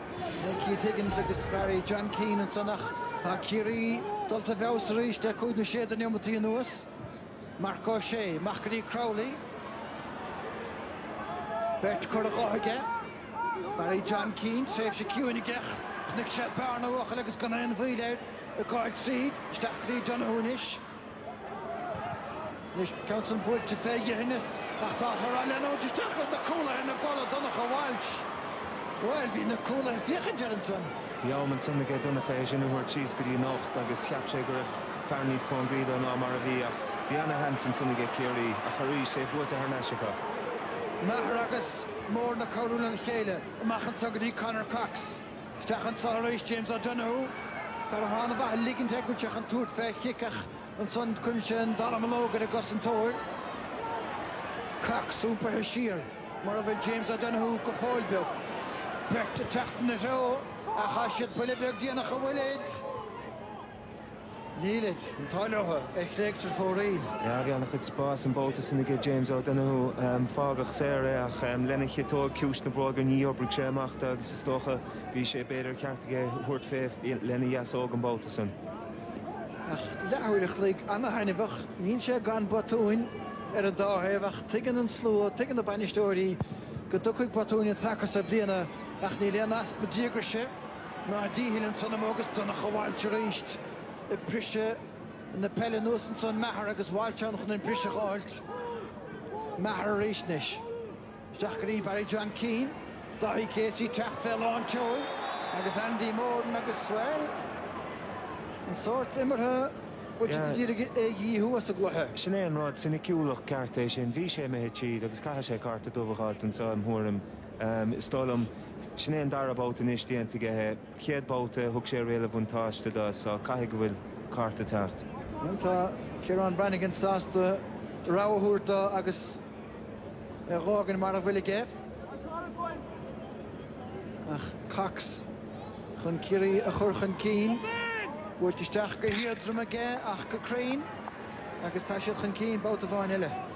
Beidh Keith Higgins agus Barry John Keane ansan ach tá Ciarraí dulta i bhfeabhas arís le cúig nó sé de neomataí anuas. Marc Ó Sé, amach go dtí Crowley. Beirt curtha dho aige. Barry John Keane, tréimhse ciúin aige ach chonaic sé bearna a bhuachaill agus gan aon mhoill air ag gabháil tríd. Isteach go dtí Donohue anois. Anois an ceann san buailte fé dhithneas ach tá a chur á leanúint isteach ag na cúlaithe ina gcodladh Donncha Walsh, Bhuel, bhí na cúlaithe ag féachaint air ansan. Bhí am ansan aige Donncha é sin a thabhairt síos go dtí an ucht agus cheap sé go raibh fear níos cóngaraí dó ná mar a bhí ach bhí ana-sheans ansan aige Ciarraí ach arís é buaite thar n-ais acu. Maher agus Moran ag cabhrú lena chéile amach anseo go dtí Conor Cox. Isteach anso arís James O'Donoghue, fear atá ana-mhaith ag ligint air go bhfuil sé chun tabhairt fé chic ach ansan cuireann sé an dallamullóg ar an gcosantóir. Cox iompaithe siar mar a bhfuil James O'Donoghue go fóill beag. Beirt ag teacht ina threo ach tá siad buille beag déanach an bhfuilid. Nílid, an t-ádh leothu, chuaigh sé ar fóraoil. Bhí ana-chuid spáis an babhta san aige James O'Donoghue. Fágadh saor é ach lena chiotóg, ciumhais na bróige ní oibrigh sé amach dó agus is dócha bhí sé, b'fhéidir, cheart aige thabhairt fé lena dheasóg an babhta san. Ach leathuair a chloig ana-thaitneamhach, níl sé gan botúin ar an dá thaobh ach tuigeann an slua, tuigeann na bainisteoirí go dtiocfaidh botúin an taca so bliana ach níl aon easpa díograise, Nár dícheall annsan im ó agus Donncha Bhailt arís ag briseadh na peile anuas annsan Maher agus Bhailt ann chun an briseadh a fhághailt Maher arís anois. Isteach go dtí Barry John Keane, Dáithí Casey teacht fé lántseoil agus Andy Moran agus bhuel an sórt imeartha go bhfuil siad a d'iarraidh é a dhíothú as an gcluiche. Sin é an rud, soiniciúlacht ceart é sin. Bhí sé imithe tríd agus caithfidh sé cárta dubh a dh'fháilt annso im' thuairim. Is dóigh liom, sin é an dara babhta anois déanta aige é. Chéad babhta, thug sé riail a bhuntáiste dó so caithfidh go bhfuil cárta teacht. Bhuel, tá Ciarán Brannigan sásta rabhadh a thabhairt dó agus é dhá fhágaint mar a bhfuil aige. Ach Cox chun Ciarraí a chur chun cinn. Buailte isteach go héadrom aige ach go cruinn agus tá siad chun cinn babhta amháin eile.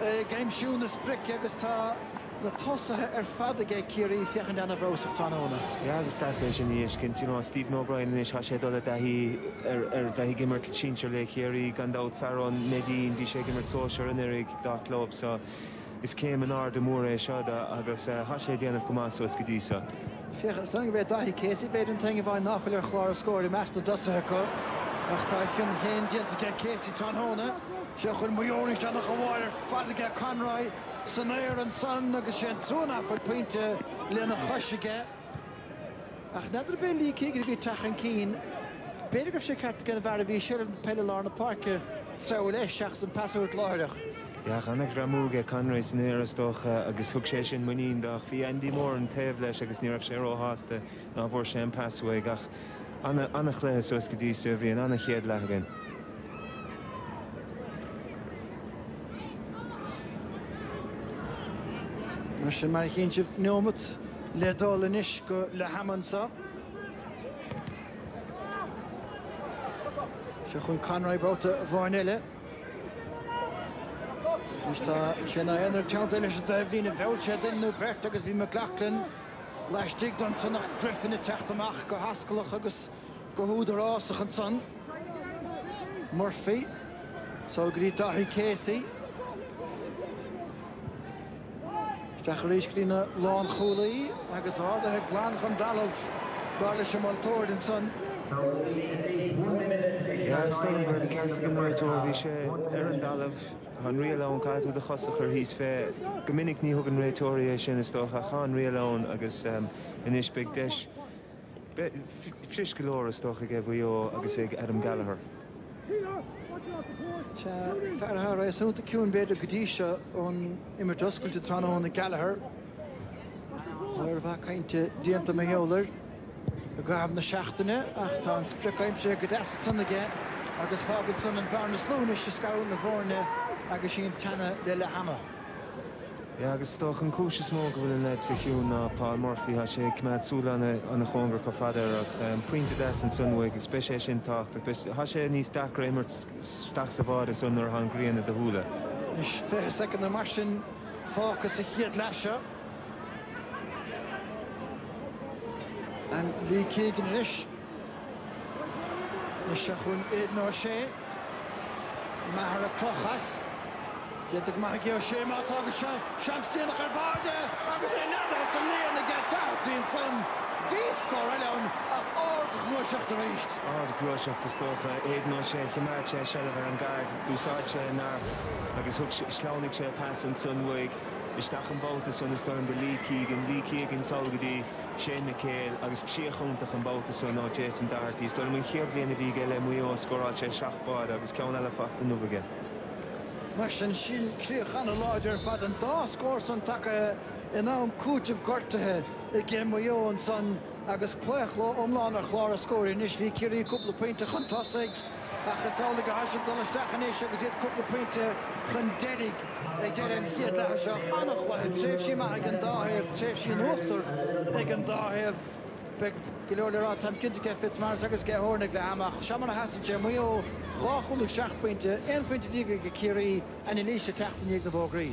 ag aimsiú na sprice agus tá na tosaithe ar fad ag ag Ciarraí féachaint an-fheabhasach tráthnóna. Yeah, agus deas é sin a fheiscint. You know, Stephen O'Brien anois, tá sé ag dul i dtaithí ar, ar bheith ag imirt sinsir le Ciarraí, gan dabht. Fear ó Neidín, bhí sé ag imirt sóisear anuraidh dá chlub so is céim in airde mór é seo do agus tá sé ag déanamh go maith suas go dtí so. Féach, is dóigh go b'é Daithí Casey b'fhéidir an t-aon amháin ná fuil ar chlár an scóir i measc na dtosaithe acu ach tá a chion féin déanta ag ag Casey tráthnóna. sé chun Maher is ana-fháil ar fad aige, Conroy, san aer ansan agus is é an trua nach bhfuil pointe lena chois aige. Ach n'fheadar b'é Lee Keegan a bhí ag teacht chun cinn. B'fhéidir go raibh sé ceart aige an bhfear a bhí i seilbh na peile i lár na páirce treabhadh leis seachas an pas a thabhairt láithreach. Ach an-ghreamú ag Conroy san aer is dócha agus thug sé sin muinín dó ach bhí Andy Moran taobh leis agus ní raibh sé ró-shásta. Ná fuair sé an pas uaidh ach an-chluiche suas go dtí seo. Bhí an an-chéad leath againn. Mar sin, mar a chíonn sibh, neomat le dul anois go leath-am anseo. Seo chun Conroy babhta amháin eile. Agus tá sé ina aonar teannta leis an dtaobhlíne. Bhuail sé duine nó beirt agus bhí McLaughlin. laistigh de ansan ach Griffin ag teacht amach go hoscailteach agus go húdarásach ansan. Murphy, suas go dtí Dáithí Casey, isteach arís go dtí an lánchúlaí agus ardaithe glan den dtalamh, dar leis an moltóir ansan. Is dóigh gur ceart go mbeadh an ceart ag an réiteoir, bhí sé ar an dtalamh. Tá an riail ann, caithfidh tú do chos a chur thíos fé. Go minic ní thugann réiteoirí é sin, is dócha, ach tá an riail ann agus anois beidh deis fuirist go leor, is dócha, ag Maigh Eo agus ag Adam Gallagher. Sea, fear atá réasúnta ciúin, b'fhéidir, go dtí seo ón imirt oscailte tráthnóna, Gallagher. Ar mhaith cainte déanta ag Maigh Eo. i gcaitheamh na seachtaine ach tá an sprioc aimsithe go deas ansan aige agus fágann san an bhearna is lú anois ag scaradh na bhfoirne agus sinn ag teannadh le leath ama. Yeah, agus is dócha an cúis is mó go bhfuil an leaid san ciúin ná Paul Murphy, tá sé ag coimeád súil ana chóngarach chomh fada. Ach pointe deas ansan uaidh agus beidh sé sin tábhachtach. Tá sé níos deacra a imirt isteach sa bháide ansan nuair atá an ghrian i do shúile. Anois 20 soicind nó mar sin fágtha sa chéad leath seo. An Lee Keegan arís. Anois chun Aidan O'Shea. Maher ag crochadh as. Déanta go maith aige O'Shea má tá go seans déanach ar barr de agus é leath as an líon aige Doherty ansan. Bhí scór eile ann ach ardghluaiseacht arís. Ardghluaiseacht is dócha. Aidan O'Shea, chimeád sé seilbh ar an gcaid, d'úsáid sé a neart agus thug sé, shleamhnaigh sé an pas ansan uaidh. isteach an babhta san is dóigh liom go Lee Keegan, Lee Keeagan sall go dtí Shane McHale agus críoch iontach an babhta san ó Jason Doherty. Is dóigh liom an chéad bhliain a bhí aige le Maigh Eo, scóráil sé seacht báide agus ceann eile faighte inniu aige. Mar sin sin críoch an-láidir ar fad, an dá scór san tagaithe in am cúitimh gortuithe aige Maigh Eo ansan agus claochló iomlán ar chlár an scóir. Anois bhí Ciarraí cúpla pointe chun tosaigh, ach is amhlaidh atá siad ag dul isteach anois agus iad cúpla pointe chun deiridh ag deireadh an chéad leatha seo. An-chluiche, tréimhsí maithe ag an dá thaobh, tréimhsí in uachtar ag an dá thaobh. Beidh go leor le rá, táim cinnte, ag Fitzmaurice agus ag Horan ag leath ama ach seo mar a sheasann sé, Maigh Eo dhá chúl agus seacht bpointe, aon phointe déag ag Ciarraí, Anailís, ag teacht i ndiaidh na bhfógraí.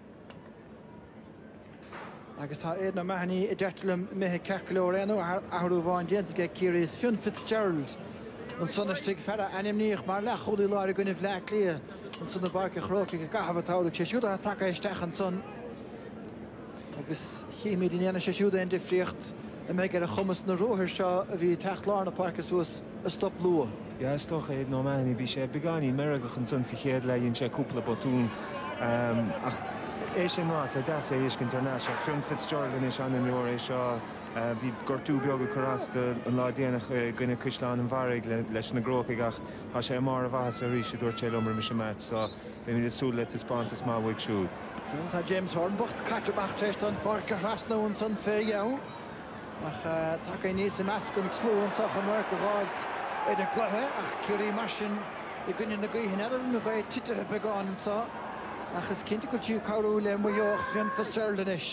Agus tá Aidan O'Mahony a deirtear liom imithe ceart go leor, aon athrú amháin déanta aige ag Ciarraí. Is Fionn Fitzgerald ansan istigh, fear a ainmníodh mar leathchúlaí láir i gcoinne Bhleá Cliath ansan i bPáirc an Chrócaigh i gcaitheamh an tsamhraidh, sé siúd atá tagtha isteach ansan agus chífimid an ndéanfaidh sé siúd aon difríocht. an mbeidh ar a chumas na ruathair seo a bhí ag teacht lár na páirce suas a stop luath. Yeah is dócha Aidan O'Mahony bhí sé beagáinín meirgeach ansan sa chéad leath dhein sé cúpla botún ach é sin ráite tá deas é a fheiscint thar n-ais ach Fionn Fitzgerald anois an-imreoir é seo bhí gortú beag ag cur as do an lá déanach i gcoinne Caisleán an Bharraigh leis na gCrócaigh ach tá sé i mbarr a mhaitheasa arís a dúirt sé liom roimis an meaits so beimid ag súil le taispeántas maith uaidh siúd. Tá James Horan bocht caite amach tar éis do an pháirc a thrasnú ansan fé dheabhadh ach tagtha aníos i measc an tslua anseo chun radharc a dh'fháilt ar an gcluiche ach Ciarraí mar sin i gcoinne na gaoithe. N'fheadar an ghaoth titithe beagán anseo ach is cinnte go bhfuil sí ag cabhrú le Maigh Eo ach Fionn Fitzgerald anois.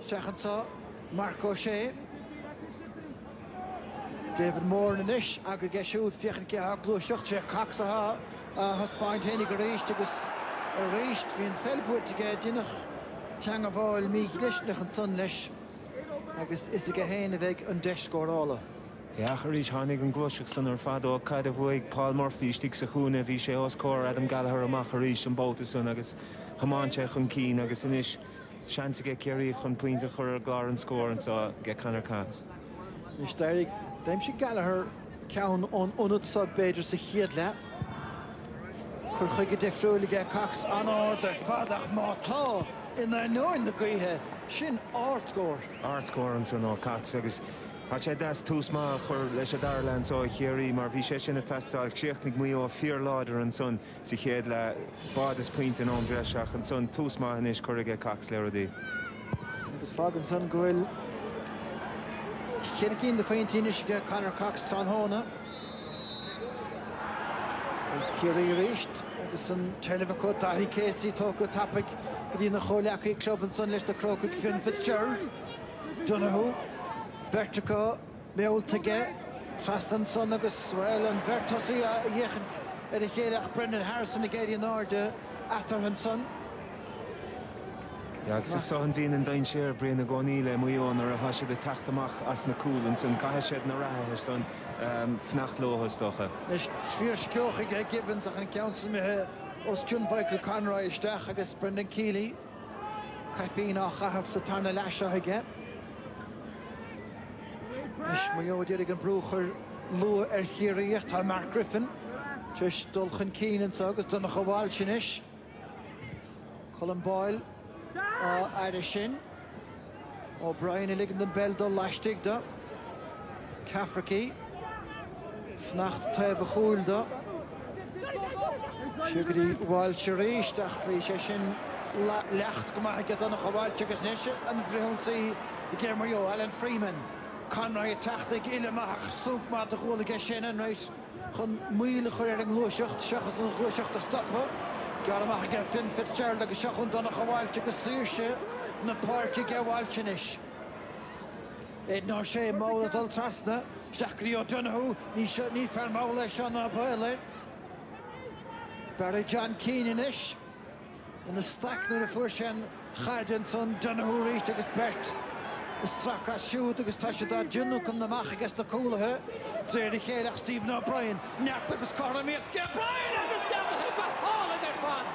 Isteach anso Marc Ó Sé. David Moran anois againn aige siúd, féachaint cé athá ag gluaiseacht. Sé Cox athá a thaispeáint fhéinig arís agus arís. Bhí an pheil buaite aige, deineadh teangabháil mí-dhlisteanach ansan leis agus is aige féin a bheidh an deis scórála. Ach arís tháinig an gluaiseacht san ar fad ón gcaid a bhuaigh Paul Murphy istigh sa chúinne. Bhí sé os comhair Adam Gallagher amach arís an babhta san agus thiomáin sé chun cinn agus anois, Seans aige Ciarraí chun pointe a chur ar an gclár an scór anseo aige Conor Cox. Anois d'éirigh, d'aimsigh Gallagher ceann ón ionad seo b'fhéidir sa chéad leath. Cur chuige difriúil aige Cox, an-ard ar fad ach má tá, in ainneoin na gaoithe, sin ardscór. Ardscór ansan ó Cox agus tá sé deas tús maith a chur leis an dara leath anseo do Chiarraí mar bhí sé sin ag teastáil. Chríochnaigh Maigh Eo fíorláidir ansan. sa chéad leath. Báide is pointe in am breise ach ansan tús maith anois curtha aige Cox le rudaí. Agus fágann san go bhfuil cheithre cinn de phointí anois aige Conor Cox tráthnóna. Agus Ciarraí arís agus an téarnamh acu Daithí Casey tógtha tapaidh go dtí na chomhleacaí club ansan leis na Crócaigh Fionn Fitzgerald, Donoghue, beirt acu, meallta aige trasna ansan agus, bhuel, an bheirt thosaigh ag féachaint ar a chéile ach Brendan Harrison ag éirí in airde eatarthu ansan. Agus is ansan a bhíonn an dainséar, Brian i gcónaí le Maigh Eo nuair atá siad ag teacht amach as na cúil ansan. Caithfidh siad na reathaithe san fanacht leo, is dócha. Anois fiarsceabhach aige Gibbons ach an ceann sin imithe os cionn Mhichael Conroy isteach agus Brendan Kealy. Caipín á chaitheamh sa tarna leath seo aige. Anois Maigh Eo d'iarraidh an brú a chur luath ar Chiarraí ach tá Mark Griffin tar éis dul chun cinn anseo agus Donncha Walsh anois. Colm Boyle á fhaire sin. O'Brien ag ligean don bpeil dul laistigh de Cafferkey ag fanacht taobh a chúil de seo go dtí Walsh arís ach bhí sé sin léite go maith ag Donncha Walsh agus anois an frithionsaí aige Maigh Eo, Alan Freeman. Conroy ag teacht ag filleadh amach ach sonc maith de ghuala aige sin. An rud chun moill a chur ar an ngluaiseacht seachas an ghluaiseacht a stopadh. Gearrtha amach aige Fionn Fitzgerald agus seo chun Donncha Walsh agus saoirse na páirce aige Walsh anois. Aidan O'Shea mall ag dul trasna, isteach go dtí O'Donoghue, ní fear mall é seo ná baol air. Barry John Keane anois. ina staic nuair a fuair sé an chaid ansan Donoghue arís agus beirt ag stracadh as siúd agus tá siad á dtionlacan amach ages na cúlaithe de réir a chéile ach Stephen O'Brien, neart agus cothromaíocht aige O'Brien agus dearcadh go hálainn ar fad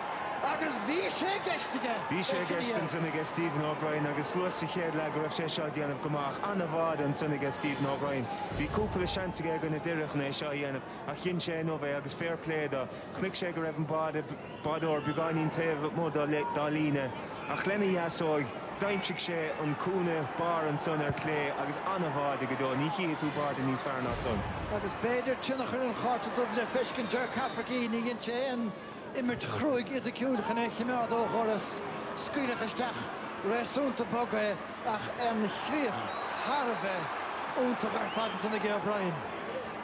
agus bhí sé i gceist aige. Bhí sé i gceist ansan aige Stephen O'Brien agus luas sa chéad leath go raibh sé seo á dhéanamh go maith. An-bháide ansan aige Stephen O'Brien. Bhí cúpla seans aige i gcoinne Doire chun é seo a dhéanamh ach dhein sé inniu é agus fair play do. Chonaic sé go raibh an báide. Báideoir beagáinín taobh amuigh dá líne ach lena dheasóig d'aimsigh sé an cúinne barr ansan ar chlé agus an-bháide go deo. Ní chífidh tú báide níos fearr ná san. Agus b'fhéidir tionchar an Chárta Dubh le feiscint ar Cafferkey, nár dhein sé aon imirt chruaidh fhisiciúil chun é a chimeád ó dhoras scaoileadh isteach réasúnta bog é. Ach an chríoch thar a bheith iontach ar fad ansan aige O'Brien.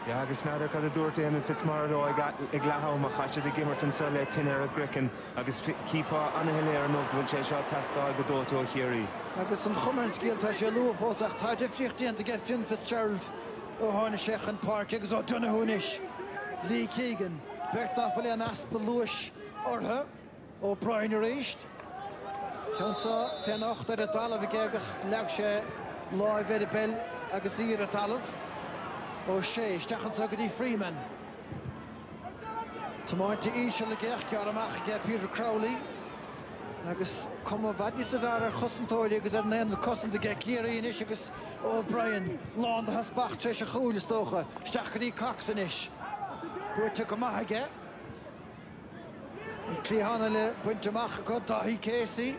Yeah agus n'fheadar cad a dúirt Éamonn Fitzmaurice ag leath ama, ach tá siad ag imirt anso le tine ar a gcraiceann agus chífeá ana-shoiléir inniu go bhfuil sé seo ag teastáil go dóite ó Chiarraí. Agus an chuma ar an scéal tá sé luath fós ach tá difríocht déanta aige Fionn Fitzgerald ó tháinig sé chun páirce agus O'Donoghue anois, Lee Keegan, beirt nach bhfuil aon easpa luais orthu. Ó Broin arís. Ceann seo fé anocht ar an dtalamh ag Keegan. Leag sé láimh ar an bpeil agus í ar an dtalamh. Ó Sé, isteach anso go dtí Freeman. Tiomáinte íseal aige ach gearrtha amach aige Peter Crowley agus cuma i bhfad níosa bhfearr ar chosantóirí agus ar an aonad cosanta aige Ciarraí anois agus Ó Broin lán de theaspach tar éis a chúil, is dócha. Isteach go dtí Cox anois. Buaite go maith aige. Bhí cliathána le baint amach acu, Dáithí Casey,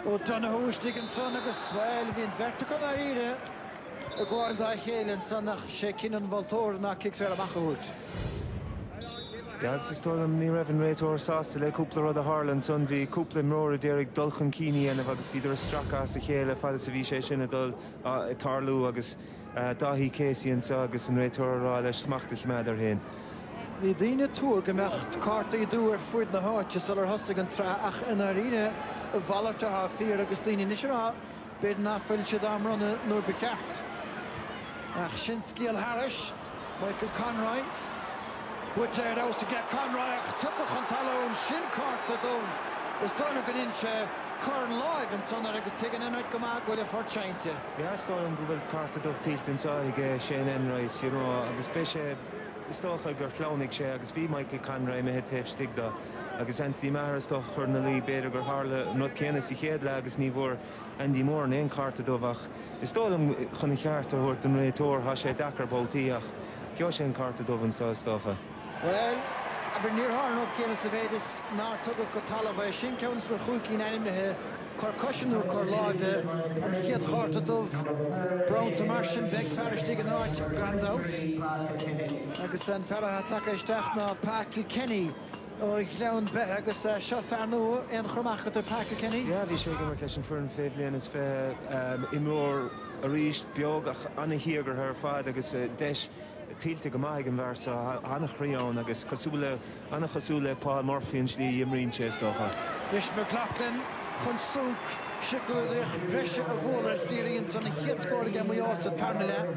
O'Donoghue istigh ansan agus, bhuel, bhí an bheirt acu i ndáiríre ag gabháil dá chéile ansan ach sé cinneadh an mholtóra ná cic saor amach a thabhairt. Yeah agus is dóigh liom ní raibh an réiteoir sásta le cúpla rud a tharla ansan, bhí cúpla imreoir a d'iarraidh dul chun cinn a dhéanamh agus bhíodar ag stracadh as a chéile fad is a bhí sé sin ag dul, tarlú agus, Dáithí Casey anseo agus an réiteoir á rá leis smacht a choimeád air féin. Bhí daoine ag tuar go mbeadh cártaí dubha ar fuaid na háite sular thosnaigh an tsraith ach i ndáiríre a mhalairt athá fíor agus daoine anois ag rá b'fhéidir ná fuil siad á mbronnadh nuair ba cheart. Ach sin scéal thairis. Michael Conroy, buaite ar fheabhas aige Conroy ach tugtha chun talún, sin cárta dubh. Is dóigh liom go ndéanann sé cuireann láimh ansan air agus tuigeann Enright go maith go bhfuil a phort seinnte. Is dóigh liom go bhfuil Cárta Dubh tuillte ansan aige Shane Enright, you know, agus beidh sé, is dócha, gur shleamhnaigh sé agus bhí Michael Conroy imithe taobh istigh de agus Anthony Maher, is dócha, ag cur ina luí. B'fhéidir gur tharla an rud céanna sa chéad leath agus ní bhfuair Andy Moran aon chárta dubh ach is dóigh liom chun a cheart a thabhairt don réiteoir, tá sé deacair babhtaí ach gheobhaidh sé an cárta dubh anseo, is dócha. Bhuel, abair, níor tharla an rud céanna sa mhéid is nár tugadh go talamh é. Sin ceann de na cúig cinn ainmnithe, cor coise nó cor láimhe, an chéad chárta dubh, bronnta mar sin. Beidh fear istigh in áit, gan dabht, agus an fear atá tagtha isteach ná Pa Kilkenny ó Ghleann Beithe agus seo fear nua, aon chur amach agat ar Pa Kilkenny? Yeah, bhí sé ag imirt leis an foireann fé bhliain is fiche, imreoir arís, beag ach an-díograiseach ar fad agus deis, tuillte go maith ag an bhfear seo, an-chroí ann agus cosúil le, an-chosúil le Paul Murphy an tslí a imríonn sé, is dócha. Bhris McLaughlin chun sonc, siceolaíocht bhreise a bhualadh ar Chiarraí ins an chéad scór aige Maigh Eo sa tarna leath.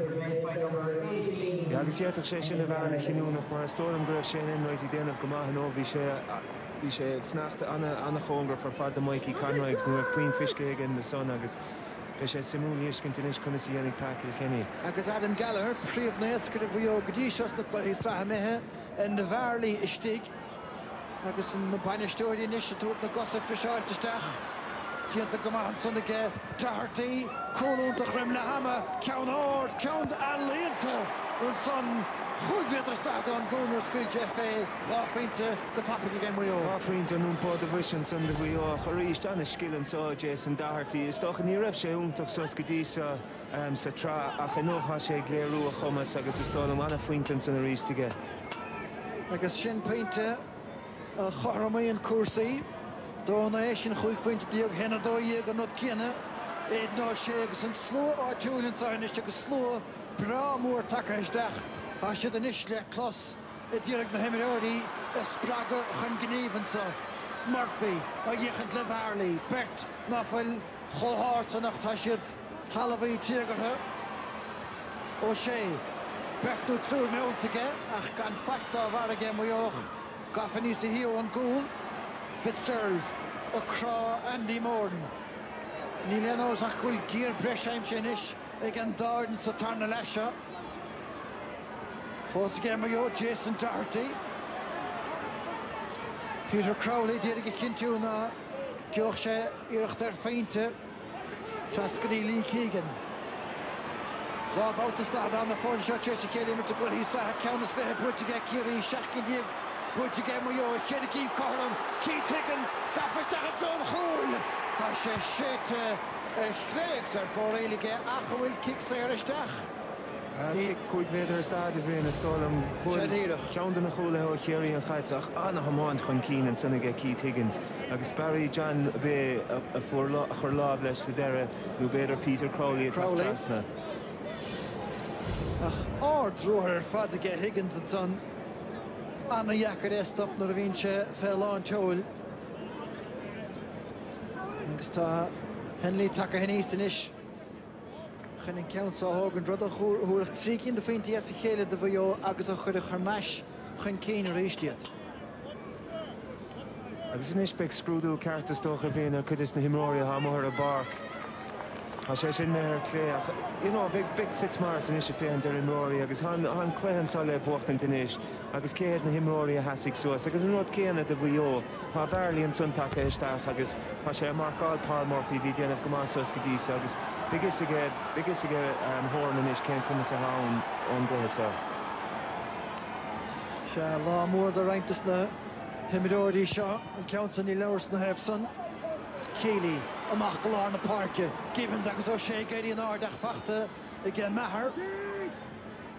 Agus d'fhéadfadh sé sin a bheith an-chinniúnach mar is dóigh liom go raibh Shane Enright ag déanamh go maith nó bhí sé, bhí sé ag fanacht an-chóngarach ar fad do Mhikey Conroy agus ní raibh puinn fisce aige ansan agus, Beidh sé suimiúil a fheiscint anois conas a dhéanfaidh Pa Kilkenny. agus Adam Gallagher, príomhnaoscaire Mhaigh Eo go dtí seo sna cluichí sraithe imithe, Enda Varley istigh agus na bainisteoirí anois ag tabhairt na gcosa friseáilte isteach. Déanta go maith ansan aige Doherty, cúl iontach roimh leath ama, ceann ard, ceann ealaíonta ansan, chúig mhéadar is daichead ón gcúl nuair scaoil sé fé. Dhá phointe go tapaidh aige Maigh Eo. Dhá phointe in iompó do bhoise ansan do Mhuigh Eo ach arís an-scil anso ó Jason Doherty. Is dócha ní raibh sé iontach suas go dtí seo sa tsraith ach inniu tá sé ag léiriú a chumas agus is dóigh liom an-phointe ansan arís aige. Agus sin pointe a chothromaíonn cúrsaí. Dó naoi, sin chúig phointe déag, haon 12 an rud céanna, Aidan O'Shea agus an slua áitiúil anso anois agus slua breá mór tagtha isteach. Tá siad anois le clos. a d'iarraidh na himreoirí a spreagadh chun gnímh anseo, Murphy á fhéachaint le Varley, beirt ná fuil chomh hard san ach tá siad talmhaí téagartha, O'Shea, beirt nó triúr meallta aige ach gan faic dá bharr aige, Maigh Eo, gafa aníos i dtreo an gcúl, Fitzgerald ag crá Andy Moran. Níl aon amhras ach go bhfuil giar breise aimsithe anois. ag an dá fhoireann sa tarna leath seo. Fós aige Maigh Eo, Jason Doherty, Peter Crowley d'iarraidh a chinntiú ná geobhadh sé iarracht ar phointe trasna go dtí Lee Keegan. Dhá bhabhta is daichead an dá fhoireann seo tar éis a chéile imirt i gcluichí sraithe ceann is fiche buaite aige Ciarraí, seacht gcinn déag buaite aige Maigh Eo, a ceathair díobh cothrom Keith Higgins gafa isteach i dtreo an chúil. Tá sé séidte. ar chlé agus ar fóraoil aige ach an bhfuil cic saor isteach níl. Cic cúig mhéadar is daichead a bhí ann is dóigh liom. Bhuail ceann de na cúlaithe ó Chiarraí an chaid ach an-thiomáint chun cinn ansan aige Keith Higgins agus Barry John ab ea a chuir lámh leis sa deireadh nó b'fhéidir Peter Crowley ag teacht trasna. Ach ard-ruathar ar fad aige Higgins ansan. An-deacair é a stop nuair a bhíonn sé fé lán tseoil. Agus tá Hennelly tagtha aníos anois chun an ceann seo a thógaint, rud a thabharfadh trí cinn de phointí as a chéile do Mhaigh Eo agus a chuirfeadh thar n-ais chun cinn arís iad. Agus anois beidh scrúdú ceart is dócha a bhíonn ar chuid des na himreoirí atá amuigh ar an bpáirc. Tá sé sin mar cliché ach, you know, beidh Fitzmaurice anois ag féachaint ar imreoirí agus tá an cluiche anseo le buachtaint anois agus cé hiad na himreoirí a sheasfaidh suas agus an rud céanna do Mhaigh Eo. Tá Varley ansan tagtha isteach agus tá sé ag marcáil Paul Murphy a bhí ag déanamh go maith suas go dtí seo agus beidh fhios aige beidh fhios aige Horan anois cén cumas atá ann ón gcluiche seo. Sea, lá mór do roinnt de na himreoirí seo, an ceann san níl amhras ina thaobh san. Kealy amach go lár na páirce. Gibbons agus O'Shea ag éirí in airde ach faighte ag Maher.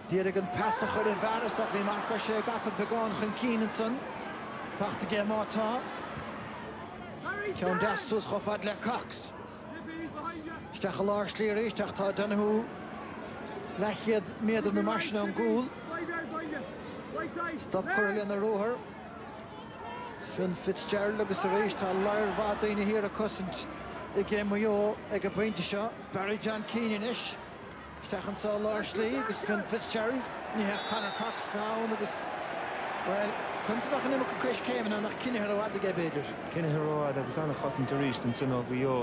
D'éirigh an pas a chuir an fear as oifig mar chuir sé a gcapall beagán chun cinn ansan. Faighte aige má tá. Ceann deas suas chomh fad le Cox. Isteach i lár slí arís ach tá Donoghue leathchéad méadar nó mar sin ón gcúl. Stop curtha lena ruathar. Fionn Fitzgerald agus arís tá lear maith daoine thiar ag cosaint aige Maigh Eo ag an bpointe seo. Barry John Keane anois. Isteach anseo lár slí agus Fionn Fitzgerald, ní hea Conor Cox atá ann agus, bhuel, conas a bheadh an iomarca coiscéimeanna nó coinnithe rófhada aige, b'fhéidir? Coinnithe rófhada agus an-chosaint arís ansan ó Mhaigh Eo.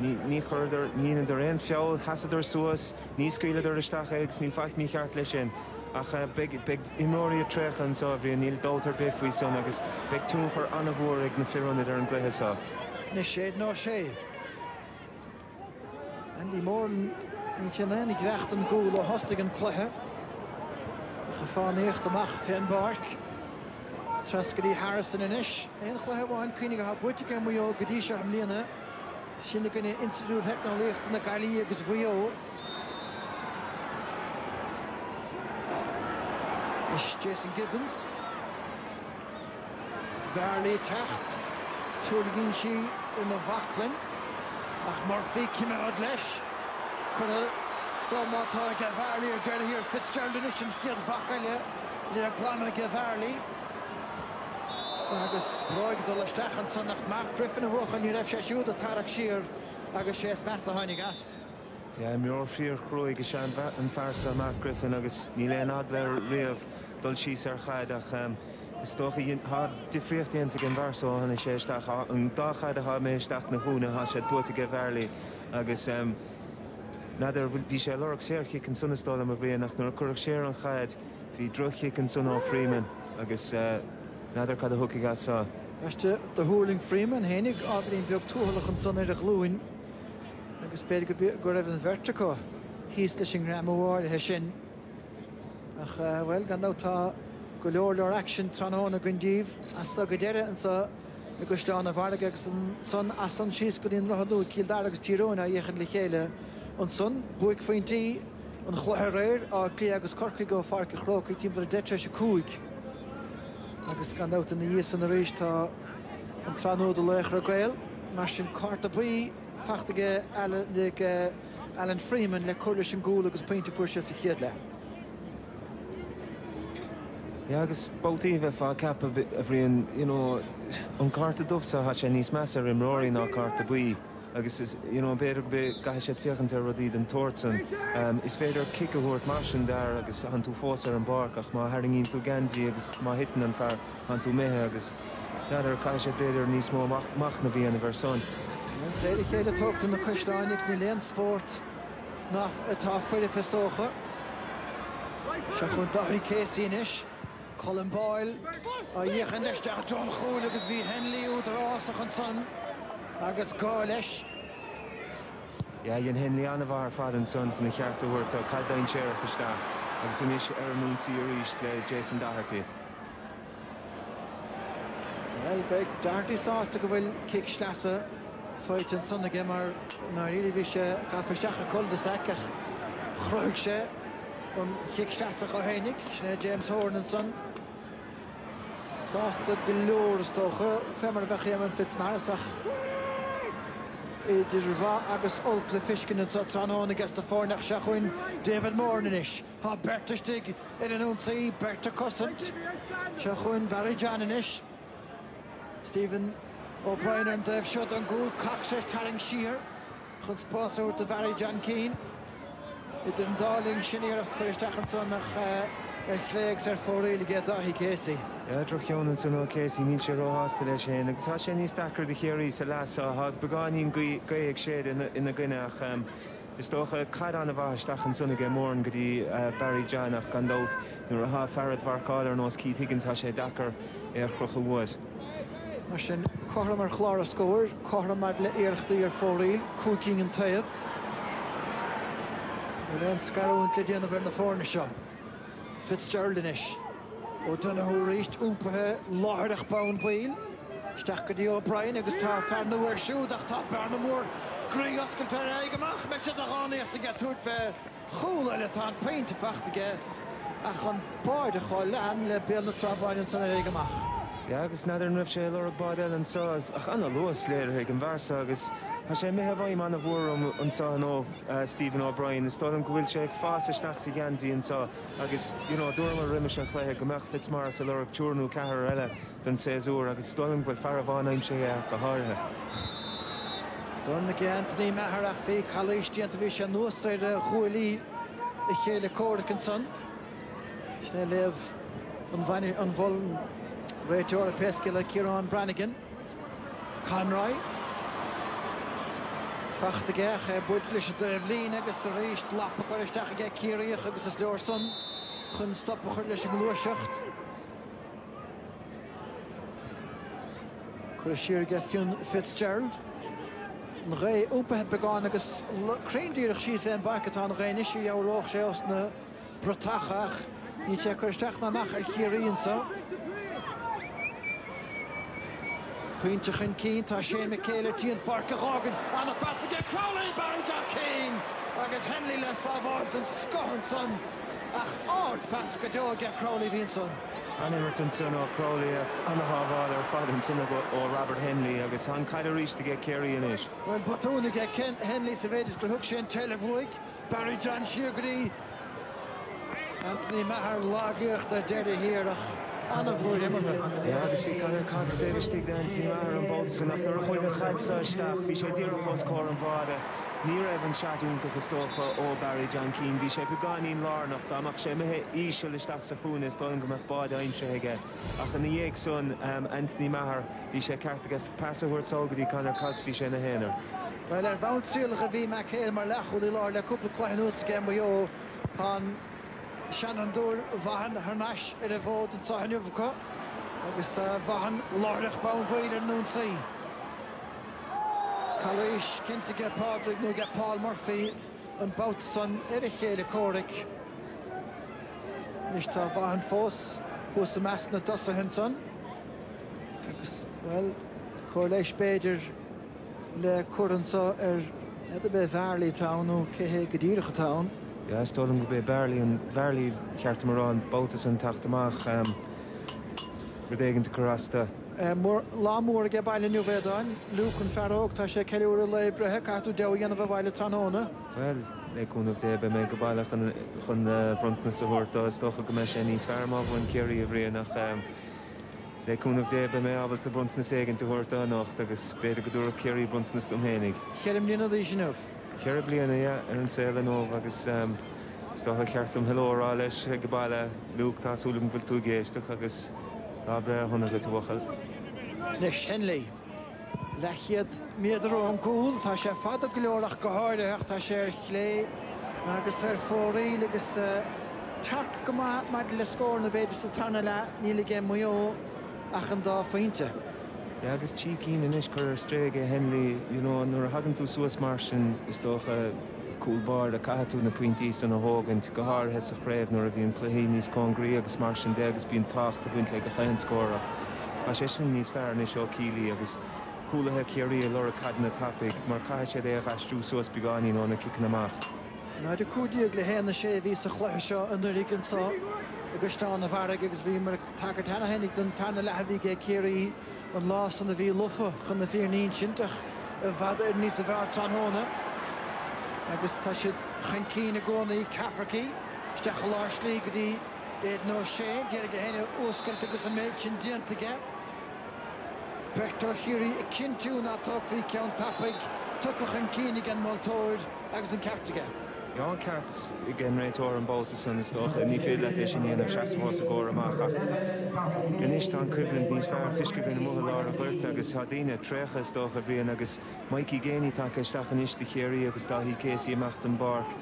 Ní chuireadar, ní dheineadar aon feall, sheasadar suas, ní scaoileadar isteach é agus níl faic mícheart leis sin. Ach beidh imreoirí ag traochadh anseo, a Bhriain, níl dabht ar bith faoi san agus beidh tionchar an-mhór ag na fir ionaid ar an gcluiche seo. Anois Aidan O'Shea. Andy Moran níl sé in aon ghiorracht don gcúl ó thosnaigh an cluiche. Ach ag fánaíocht amach fé an bpáirc. Trasna go dtí Harrison anois. Aon chluiche amháin cuimhnigh atá buaite ag Maigh Eo go dtí seo i mbliana. Sin i gcoinne Institiúid Theicneolaíochta na Gaillimhe agus Mhaigh Eo. Is Jason Gibbons Varley ag teacht, tuirlingíonn sí ina bhaclainn ach Murphy, cimeád leis, curtha de má tá aige Varley ar deireadh thiar, Fitzgerald anois an chéad bhac eile le glanadh aige Varley agus bróg ag dul isteach ansan ach Mark Griffin a bhuachaill, ní raibh sé siúd ag tarrac siar agus sé is measa a tháinig as. Imreoir fíorchruaidh is ea an fear seo, Mark Griffin, agus níl aon eagla air riamh dul síos ar chaid ach is dócha tá difríocht déanta ag an bhfear seo ó tháinig sé isteach. An dá chaid a sháigh Maigh Eo isteach na húdaithe tá siad buaite aige Varley, agus n'fheadar, bhí sé ag lorg saorchic ansan is dóigh liom, a Bhriain, ach nuair a cuireadh siar an chaid bhí droch-chic ansan ó Freeman agus n'fheadar cad a thiocfaidh as seo. Gaisce do thuirling Freeman fhéinig, ábhairín beag tuathalach ansan ar a ghlúin. agus b'fhéidir go raibh an bheirt acu thíos leis an ngreamú áirithe sin ach, bhuel, gan dabht tá go leor leor aicsin tráthnóna againn daoibh as so go deireadh anseo i gCaisleán an Bharraigh agus ansan as san síos go dtí an Droichead Nua, Cill Dara agus Tír Eoghain á fhéachaint le chéile ansan. Buaicphointí an chluiche aréir, Áth Cliath agus Corcaigh ó Pháirc an Chrócaigh timpeall ar 10 tar éis a cúig agus gan dabht ina dhiaidh san arís tá an tsraith nua de Laochra Gael. Mar sin, cárta buí. fachta aige Alan Freeman le cur leis an gcúl agus pointe a fuair sé sa chéad leath. Yeah agus babhtaí bheifeá ag ceapadh, a Bhriain, you know, an cárta dubh so tá sé níos measa ar imreoirí ná cárta buí agus is, you know, b'fhéidir go gcaithfidh siad féachaint ar rudaí den tsórt san. Is féidir cic a thabhairt mar sin d'fhear agus tánn tú fós ar an bpáirc ach má tharraingíonn tú geansaí agus má thiteann an fear, tánn tú imithe. Agus n'fheadar, caithfidh siad b'fhéidir níos mó machnamh a dhéanamh air san. Plé le chéile tugtha na coisreáin ach níl aon spórt ann atá foirfe is dócha. Seo chugainn Daithí Casey anois. Colm Boyle á fhéachaint isteach don chúl agus bhí Hennelly údarásach ansan agus gá leis. Dhein Hennelly an-mhaith ar fad ansan chun a cheart a thabhairt dó, caid dainséarach isteach agus anois ar an ionsaí arís le Jason Doherty. Bhuel, beidh Doherty sásta go bhfuil cic sleasa faighte ansan aige mar ndáiríre bhí sé gafa isteach i cul de sac ach chruthaigh sé an cic sleasa dhó fhéinig. Sin é James Horan ansan. Sásta go leor is dócha, fé mar a bheadh Éamonn Fitzmaurice ach idir mhaith agus olc le fiscint anso tráthnóna ages na foirne ach seo chugainn David Moran anois. Tá beirt istigh ar an ionsaí, beirt ag cosaint. Seo chugainn Barry John anois. Stephen O'Brien ar an taobh seo den gcúl. Cox ag tarraingt siar chun spás a thabhairt do Bharry John Keane. Idir an dá linn sin iarracht a chur isteach anso ar chlé agus ar fóraoil aige Dáithí Casey. Drochcheann anso ó Casey, níl sé róshásta leis féin agus tá sé níos deacra do Chiarraí sa leath seo. Tá beagáinín gaoth ag séideadh ina gcoinne ach. Is dócha, caid ana-mhaith isteach ansan aige Moran go dtí Barry John ach gan dabht nuair atá fear a'd mharcáil ar nós Keith Higgins tá sé deacair é a chrochadh uait. Mar sin, cothrom ar chlár an scóir, cothrom maidir le iarrachtaí ar fóraoil, cúig cinn an taobh. Níl aon scarúint le déanamh ar na foirne seo. Fitzgerald anois. O'Donoghue arís iompaithe láithreach bonn baill. Isteach go dtí O'Brien agus tá fear ina thóir siúd ach tá bearna mór groí oscailte ar a aghaidh amach. An mbeidh sé de dhánaíocht aige tabhairt fé chúl eile. Tá an pointe faighte aige ach an báide chomh leathan le Béal na Trá Báine ansan ar a aghaidh amach. Yeah agus n'fheadar an raibh sé ag lorg báide eile anso ach ana luas léirithe ag an bhfear so agus tá sé imithe i bhfeidhm ana mhór orm anso nó Stephen O'Brien, is dóigh liom go bhfuil sé ag fás isteach sa gheansaí anseo agus, you know, dúramar roimis an chluiche go mbeadh Fitzmaurice a' lorg triúr nó ceathrar eile don séasúr agus is dóigh liom go bhfuil fear amháin aimsithe acu go háirithe. D'fhan aige Anthony Maher ach bhí calaois déanta, bhí sé anuas ar ghuaillí a chéile comhraic ansan. Sin é léamh an bhainis, an mhol, an réiteora pé scéal é Ciarán Branagan. Conroy. Fachta aige ach é ag baint leis an dtaobhlíne agus arís lapa á chur isteach aige Ciarraíoch agus is leor san chun stop a chur leis an ngluaiseacht. Curtha siar aige Fionn Fitzgerald. An ghaoth iompaithe beagán agus cruinn díreach síos leis an bpáirc atá an ghaoth anois a dheabhródh sé ós na bratacha ach níl sé ag cur isteach ná amach ar Chiarraí anseo. Pointe chun cinn, tá Shane McHale ar tí an pháirc a dh'fhágaint. Ana-phas ag Crowley, Barry John Keane agus Hennelly le sábháil den scoth ansan ach ard-phas go deo aige Crowley a bhí ansan. Ana-imirt ansan ó Crowley ach ana-shábháil ar fad ansan ó Robert Hennelly agus tá an chaid arís aige Ciarraí anois. Bhuel, botún aige Hennelly sa mhéid is gur thug sé an tseilbh uaidh. Barry John Síograí, Anthony Maher lagaíocht ar deireadh thiar ach an-bhlúire imeartha. Yeah, agus bhí Conor Cox taobh istigh de Anthony Maher an babhta sin ach nuair a chuaigh an chaid seo isteach bhí sé díreach os comhair an bháide. Ní raibh an seat iontach is dócha ó Barry John Keane, bhí sé beagáinín lárnach, dá mbeadh sé imithe íseal isteach sa chúinne is dóigh liom go mbeadh báide aimsithe aige. Ach ina dhiaidh san, Anthony Maher, bhí sé ceart aige pas a thabhairt sall go dtí Conor Cox, bhí sé ina haonar. Bhuel, ar bhonn trialacha bhí McHale mar leathchúlaí láir le cúpla cluiche anuas aige Maigh Eo. Tá an seanfhondúir Vaughan thar n-ais ar an bhfód anso inniu acu agus tá Vaughan láithreach bonn baill ar an ionsaí. Calaois cinnte aige Pádraig, nó aige Paul Murphy an babhta san, ar a chéile comhraic. Anois tá Vaughan fós thuas i measc na dtosaithe ansan agus, bhuel, cóir leighis b'fhéidir. le cur anseo n'fheadar ab é Varley atá ann nó cé hé go díreach atá ann. Yeah, is dóigh liom go b'é Varley an, Varley, cheart dom a rá, an babhta san ag teacht amach, em, rud éigint ag cur as dó. Eh, mor, lá mór aige baile inniu, a Aodáin, Luke, an fear óg, tá sé ag ceiliúradh a lae breithe, caithfidh tú deabhadh a dhéanamh abhaile tráthnóna. Bhuel, le cúnamh Dé beidh mé ag baile chun, chun eh, bronntanas a thabhairt dó, is dócha go mbeidh sé níos fearr má bhuann Ciarraí, a Bhriain, ach, em, Le cúnamh Dé, beidh mé ábalta bronntanas éigint a thabhairt dó anocht agus b'fhéidir go dtabharfadh Ciarraí bronntanas dom féinig. Cheithre bliana d'aois inniu. Cheithre bliana, aye, ar an saol inniubh agus is dócha gur cheart dom hello a rá leis ag baile. Luke, tá súil agam go bhfuil tú ag éisteacht agus lá breithe sona agat, a bhuachaill. Leis Hennelly. leathchéad méadar ón gcúl. Tá sé fada go leor ach go háirithe ach tá sé ar chlé agus ar fóraoil agus tearc go maith maidir le scóranna b'fhéidir sa tarna leath níl aige Maigh Eo ach an dá phointe. Yeah agus trí cinn anois curtha ar strae aige Hennelly, you know nuair a thagann tú suas mar sin is dócha. Cúl báire, Caithfidh tú na pointí san a thógaint, go háirithe sa chraobh nuair a bhíonn cluichí níos cóngaraí agus mar sin de agus bíonn tábhacht ag baint le gach aon scór ach tá sé sin níos fearr anois ó Kealy agus cúlaithe Chiarraí ag lorg caideanna tapaidh mar caithfidh siad é a dh'aistriú suas beagáinín ó na ciceanna amach. 0-15 le 1-6 a bhí sa chluiche seo anuiridh anso i gCaisleán a' Bharraigh agus bhíomar ag tagairt cheana féinig don tarna leath a bhí age Ciarraí. an lá san a bhí lofa chun na fírinne a insint ach i bhfad Éireann níos fearr tráthnóna agus tá siad chun cinn i gcónaí, Cafferkey, isteach i lár slí go dtí Aidan O'Shea, ag iarraidh é féin a fhuascailt agus an méid sin déanta aige. Beirt ó Chiarraí ag cinntiú ná tógfaí ceann tapaidh, tugtha chun cinn ag an moltóir agus an ceart aige. An ceart ag an réiteoir an babhta san, is dócha. Ní féidir leat é sin a dhéanamh, seasamh os a gcomhair amach. Ach anois tá an choimhlint níos fearr le feiscint amuigh i lár an ghoirt agus tá daoine, traochta is dócha, a Bhriain agus Mikey Geaney tagtha isteach anois do Chiarraí agus Dáithí Casey amach don bpáirc.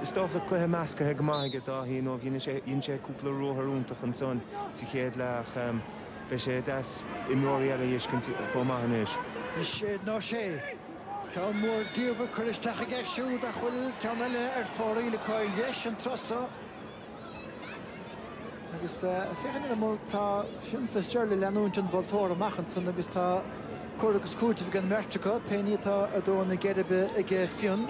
Is dócha cluiche meascaithe go maith aige Dáithí, nó dhein sé dhein sé cúpla ruathar iontach ansan sa chéad leath ach beidh sé deas imreoirí eile a fheiscint chomh maith anois. Aidan O'Shea. Ceann mór diabhail curtha isteach aige siúd ach bhfuil ceann eile ar fóraoil an chois dheis, an turas so. Agus féachaint ar an mbonn, tá Fionn Fitzgerald ag leanúint an mholtóra amach ansan agus tá cur agus cúiteamh ag an mbeirt acu, pé ní atá ag dó na geirbe ag Fionn.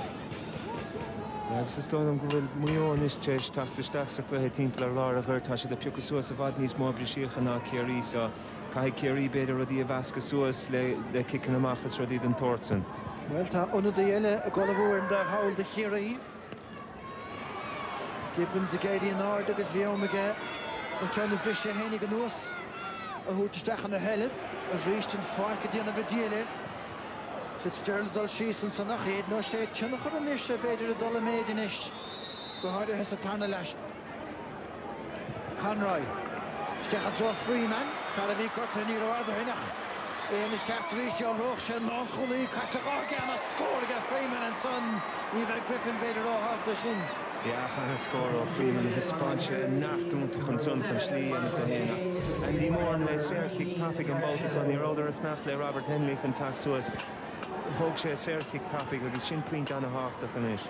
Agus is dóigh liom go bhfuil Maigh Eo anois tar éis teacht isteach sa chluiche timpeall ar lár an ghoirt. Tá siad ag piocadh suas i bhfad níos mó brisíocha ná Ciarraí sa. Caithfidh Ciarraí b'fhéidir rudaí a mheascadh suas le ciceanna amach is rudaí den tsórt san. Bhuel tá ionadaí eile ag ullmhú ar an dtaobh thall do Chiarraí. Gibbons ag éirí in airde agus bhí am aige an ceann briste a tháinig anuas a thabhairt isteach ina sheilbh, arís an pháirc ag déanamh an diabhail air. Fitzgerald ag dul síos ansan ach Aidan O'Shea a thionchar anois b'fhéidir ag dul i méid anois, go háirithe sa tarna leath. Conroy. Isteach i dtreo Freeman. Fear a bhí gortaithe ní rófhada ó shin ach é ina cheart arís. Dhealródh sé an lánchúlaí caite dhe aige, ana-scór aige Freeman ansan. Ní bheidh Griffin b'fhéidir róshásta sin. Ach ana-scór ó Freeman a thaispeáin sé neart iontach ansan chun slí a dhéanamh dó fhéin ach Andy Moran le saorchic tapaidh an babhta seo. Ní rabhadar ag fanacht le Robert Hennelly chun teacht suas. Thóg sé saorchic tapaidh agus sin pointe ana-thábhachtach anois.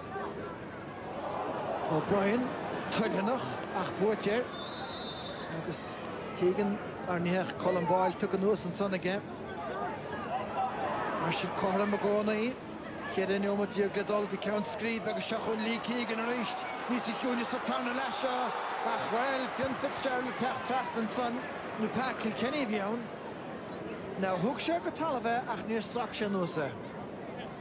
O'Brien toilteanach ach buaite air agus Keegan á ní hea, Colm Boyle tugtha anuas ansan aige. Mar sin cothrom i gcónaí. Cheithre neomat déag le dul go ceann scríbe agus seo chugainn Lee Keegan arís. Níosa chiúine sa tarna leath seo ach bhuel Fionn Fitzgerald ag teacht trasna ansan nó Pa Kilkenny a bhí ann. Now thug sé go talamh é ach níor strac sé anuas é.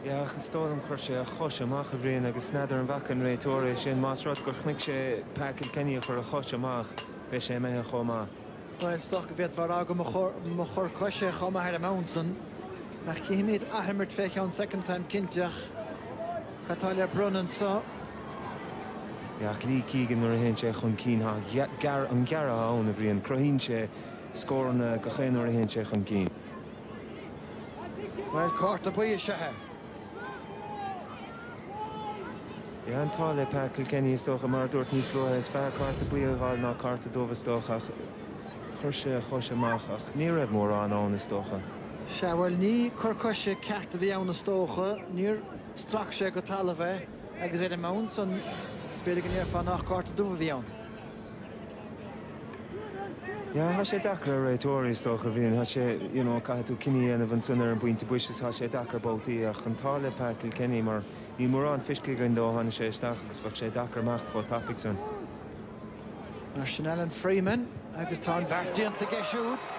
Ach is dóigh liom chuir sé a chois amach a Bhriain agus n'fheadar an bhfaca an réiteoir é sin. Más rud gur chonaic sé Pa Kilkenny ag cur a chois amach beidh sé imithe chomh maith. Bhuel, is dócha go bhféadfá a rá go mba chor coise chomh maith ar an mbonn san ach cífimid athimirt fé cheann soicind táim cinnte ach cad tá le bronnadh anseo? Ach Lee Keegan nuair a théann sé chun cinn tá ana-ghearradh ann a Bhriain, cruthaíonn sé scóranna gach aon uair a théann sé chun cinn. Bhuel, cárta buí is ea é. Bhí an t-ádh le Pa Kilkenny is dócha, mar a dúirt níos luaithe. Is fearr cárta buí a fháil ná cárta dubh is dócha ach chuir sé a chois amach ach ní raibh mórán ann is dócha. Sea, bhuel, ní cor coise ceart a bhí ann is dócha. Níor strac sé go talamh é agus ar an mbonn san b'fhéidir go ndéarfá nach cárta dubh a bhí ann. Tá sé deacair ar réiteoirí, is dócha, a mhíniú. Tá sé, you know, caithfidh tú cinneadh a dhéanamh ansan ar an bpointe boise is tá sé deacair babhtaí ach an t-ádh le Pa Kilkenny mar níl mórán feiscithe againn dó ó tháinig sé isteach agus bheadh sé deacair imeacht chomh tapaidh san. Mar sin Alan Freeman agus tá an bheart déanta aige siúd.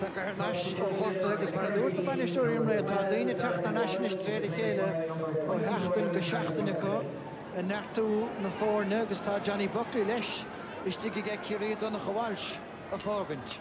Tagtha thar n-ais ó ghorta agus mar a dúirt na bainisteoirí an lae, tá daoine ag teacht thar n-ais anois de réir a chéile ó sheachtain go seachtain acu ag neartú na foirne agus tá Johnny Buckley leis istigh aige Ciarraí, Donncha Walsh a fágaint.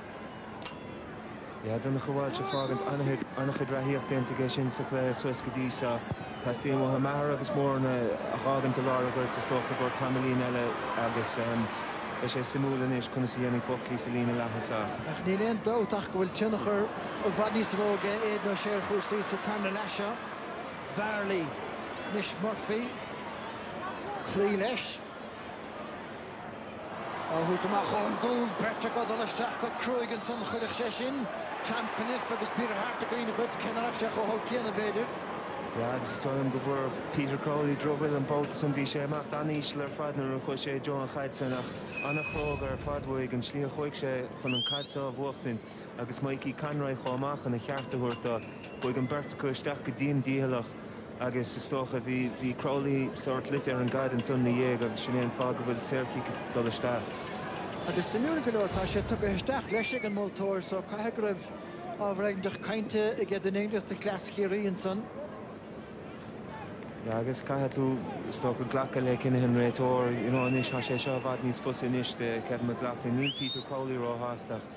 Yeah, Donncha Walsh a fágaint, an-chuid reathaíocht déanta aige sin sa chluiche suas go dtí seo. Teastaíonn uathu Maher agus Moran a dh'fhágaint i lár an ghoirt, is dócha, go ceann tamaillín eile agus beidh sé suimiúil anois conas a dhéanfaidh Buckley sa líne leaththosach. Ach níl aon dabht ach go bhfuil tionchar i bhfad níos mó ag Aidan O'Shea ar chúrsaí sa tarna leath seo. Barry, anois, Murphy cloí leis. Á thabhairt amach ón gcúl, beirt ag dul isteach go cruaidh ansan chuirfeadh sé sin Tom Cunniffe agus Peter Harte i gcuimhne dhuit, cé ná raibh sé chomh holc céanna, b'fhéidir. Agus is dóigh liom go bhfuair Peter Crowley drochbhuille an babhta san, bhí sé imithe an-íseal ar fad nuair a chuaigh sé i dtreo an chaid sin ach an-chróga ar fad uaidh an tslí a chuaigh sé chun an chaid seo a bhuachtaint. agus Mikey Conroy chomh maith chun a cheart a thabhairt dó. Chuaigh an bheirt acu isteach go dian dícheallach agus is dócha bhí Crowley sórt luite ar an gcaid ansan na dhiaidh agus sin é an fáth go bhfuil saor-chic ag dul isteach. Agus suimiúil go leor tá sé tugtha isteach leis ag an moltóir so caithfidh go raibh ábhar aighneach cainte aige duine éigint de chosaint Chiarraí ansan. Yeah agus caithfidh tú is dócha glacadh le cinneadh an réiteoir you know anois tá sé seo i bhfad níos fusa anois do Kevin McLoughlin níl Peter Crowley ró-shásta ach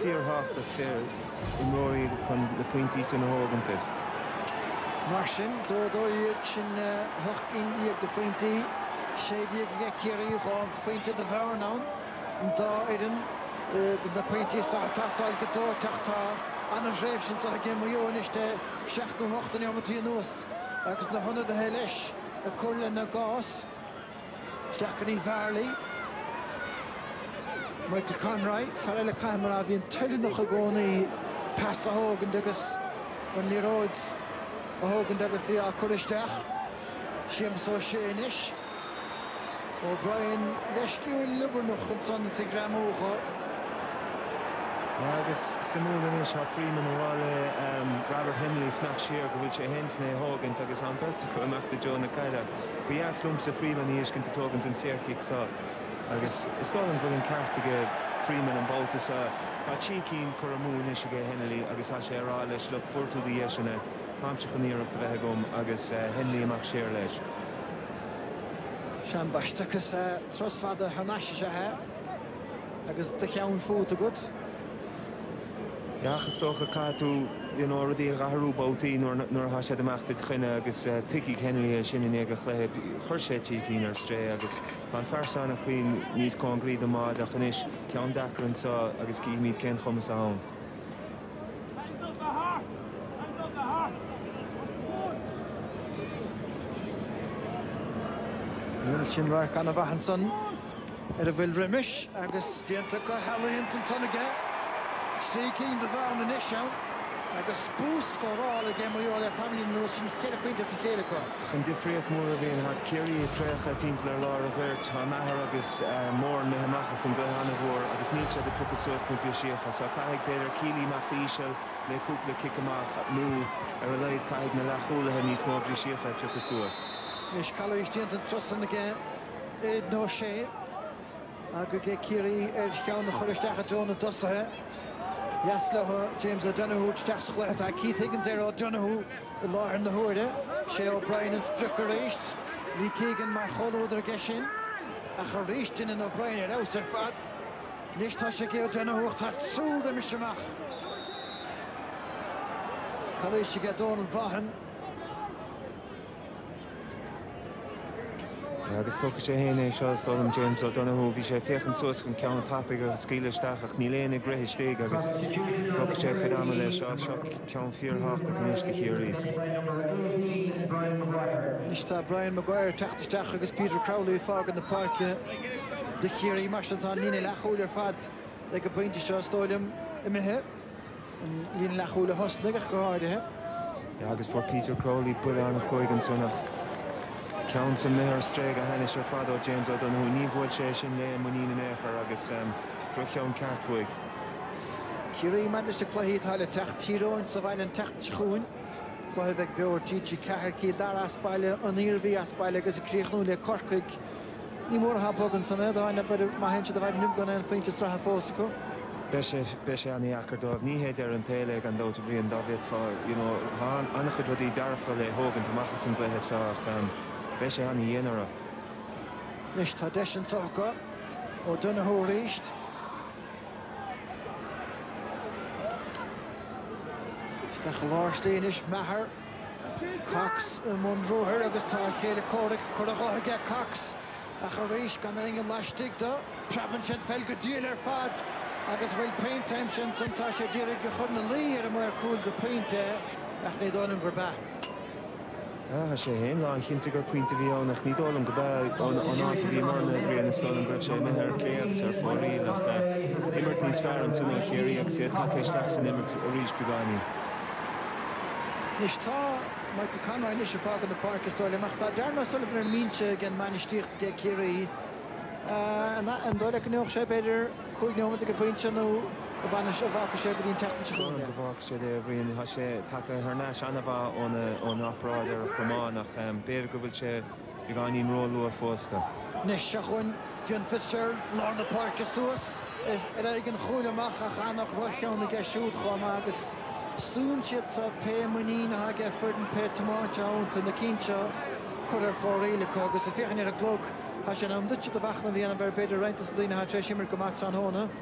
fíorshásta a gcuid imreoirí chun na pointí sin a thógaint. Mar sin, dó a dó dhéag sin a hocht gcinn dhéag de phointí, sé dhéag le Ciarraí, dhá phointe de bhearna ann, an dá fhoireann agus na pointí seo ag teastáil go dóite ach tá an-thréimhse anseo ag Maigh Eo anois de sheacht nó hocht de neomataí anuas agus na hionadaithe leis ag cur lena gcás. Is ea, Varley, Michael Conroy, fear eile Conroy a bhíonn toileanach i gcónaí pas a thógaint agus an liathróid a thógaint agus í á cur isteach. Séamus Ó Sé anois. O'Brien beagán liobarnach ansan is ag greamú dho. Agus suimiúil anois thá Freeman ag rá le Robert Hennelly fanacht siar go bhfuil sé chun é a thógaint agus tá an bheirt acu ag imeacht i dtreo na caide. Ba dheas liomsa Freeman a fheiscint ag tógaint an saorchic seo agus is dóigh liom go bhfuil an ceart aige Freeman an babhta seo. Tá trí cinn curtha amú anois aige Hennelly agus tá sé a rá leis look fuair tú do dheiseanna táimse chun iarracht a bheith agam agus Hennelly amach siar leis. Sea, ambaiste, is ea trus fada thar n-ais is ea é agus do cheann fút agat. Ach is dócha, caithfidh tú you know rudaí a athrú babhtaí nuair nuair atá siad imeacht id choinne agus tuigfidh Hennelly é sin i ndiaidh an chluiche. Chuir sé trí cinn ar strae agus tá an fear san ag cloí níos cóngaraí don mbáide ach anois, ceann deacair anseo agus cífimid cén chumas atá ann. Sin radharc an-mhaith ansan. ar a bhfuil roimis agus déanta go healaíonta ansan aige. Trí cinn de bhearna anois ann agus bús scórála ag Maigh Eo le tamallín anuas sin ceithre phointe as a chéile acu. Ach an difríocht mhór a Bhriain, tá Ciarraí ag traochadh timpeall ar lár a' ghoirt, tá Maher agus Moran imithe amach as an gcluiche an-mhór agus níl siad ag piocadh suas na brisíocha so caithfidh, b'fhéidir, Kealy imeacht íseal le cúpla cic amach nó ar a laghad caithfidh na leathchúlaithe níos mó brisíocha a phiocadh suas. Anois calaois déanta an turas san aige. Aidan O'Shea, aga ag Ciarraí ar cheann a chur isteach i dtreo na dtosaithe. Dheas leo James O'Donoghue isteach sa chluiche. Tá Keith Higgins ar O'Donoghue i láthair na huaire. Sé O'Brien an sprioc arís. Lee Keegan mar chomhluadar aige sin. Ach arís déanann O'Brien ar fheabhas ar fad. Anois tá sé ag O'Donoghue ach tá triúr roimis amach. Calaois aige Dónal Vaughan. Agus tógfaidh sé fhéin é seo, is dóigh liom, James O'Donoghue, bhí sé ag féachaint suas chun ceann tapaidh a scaoileadh isteach ach níl éinne ag rith istigh agus tógfaidh sé a chuid ama leis, á, seo ceann fíorthábhachtach anois do Chiarraí. Anois tá Brian Maguire ag teacht isteach agus Peter Crowley ag fágaint na páirce do Chiarraí, mar sin tá an líne leathchúil ar fad ag an bpointe seo, is dóigh liom, imithe. An líne leathchúil a thosnaigh ach go háirithe. Agus fuair Peter Crowley buille ana-chruaidh ansan ach ceann san imithe ar strae go hainnis ar fad ó James O'Donoghue. Ní bhuail sé é sin le muinín in aon chor agus droch-cheann ceart uaidh. Ciarraí maidir leis na cluichí atá le teacht, Tír Eoghain sa bhaile an tseachtain seo chugainn, cluiche a bheidh beo ar TG4, Cill Dara as baile, An Iarmhí as baile agus ag críochnú le Corcaigh. Níl mórán atá bog ansan é, dá nab idir má théann siad abhaile inniu gan aon phointe sraithe fós acu. Beidh sé, beidh sé an-deacair dóibh. Ní hé deireadh an tsaoil é gan dabht a Bhriain, dóibh, you know, tá an-chuid rudaí dearfa le thógaint amach as an gcluiche seo ach beidh sé an-dhian orthu. Anois tá deis anseo acu. O'Donoghue arís. Isteach i lár slí anois Maher. Cox i mbun ruathair agus tá a chéile comhraic curtha dhe aige. Cox, ach arís gan éinne laistigh dó. Preabann sé an pheil go diail ar fad agus an bhfuil pointe aimsithe ansan tá sé ag iarraidh a chur ina luí ar an maor cúil gur pointe é ach ní dóigh liom gurb ea. Tá sé féin lán chinnte gur pointe a bhí ann ach ní dóigh liom gurb ea ón áit a bhíomarna a Bhriain is dóigh liom go raibh sé imithe ar clé agus ar fóraoil ach imirt níos fearr ansan ó Chiarraí agus iad tagtha isteach san imirt arís beagáinín. Anois tá Michael Conroy anois ag fágadh na páirce is dóigh liom ach tá Darren O'Sullivan ar an mbinse ag an mbainistíocht ag Ciarraí. An dóigh leat go ndéanfadh sé ar b'fhéidir cúig nóiméad ag an bpointe nó an bhfágfadh sé go dtí an tseachtain seo chugainn é? Sílim go bhfágfadh sé é, a Bhriain. Tá sé tagtha thar n-ais ana mhaith ón operáid ar a chromán ach b'fhéidir go bhfuil sé Beagáinín róluath fós dó. Anois seo chugainn Fionn Fitzgerald lár na páirce suas. Is ar éigin a chuala amach ach ana dhroch-cheann aige siúd chomh maith agus súnn siad seo pé muinín atá aige foireann pé tiomáint atá iontu na cinn seo curtha ar fóraoil acu agus ag féachaint ar an gclog tá sé in am duitse do mhachnamh a dhéanamh ar b'fhéidir roinnt de na daoine atá tar éis imirt go maith tráthnóna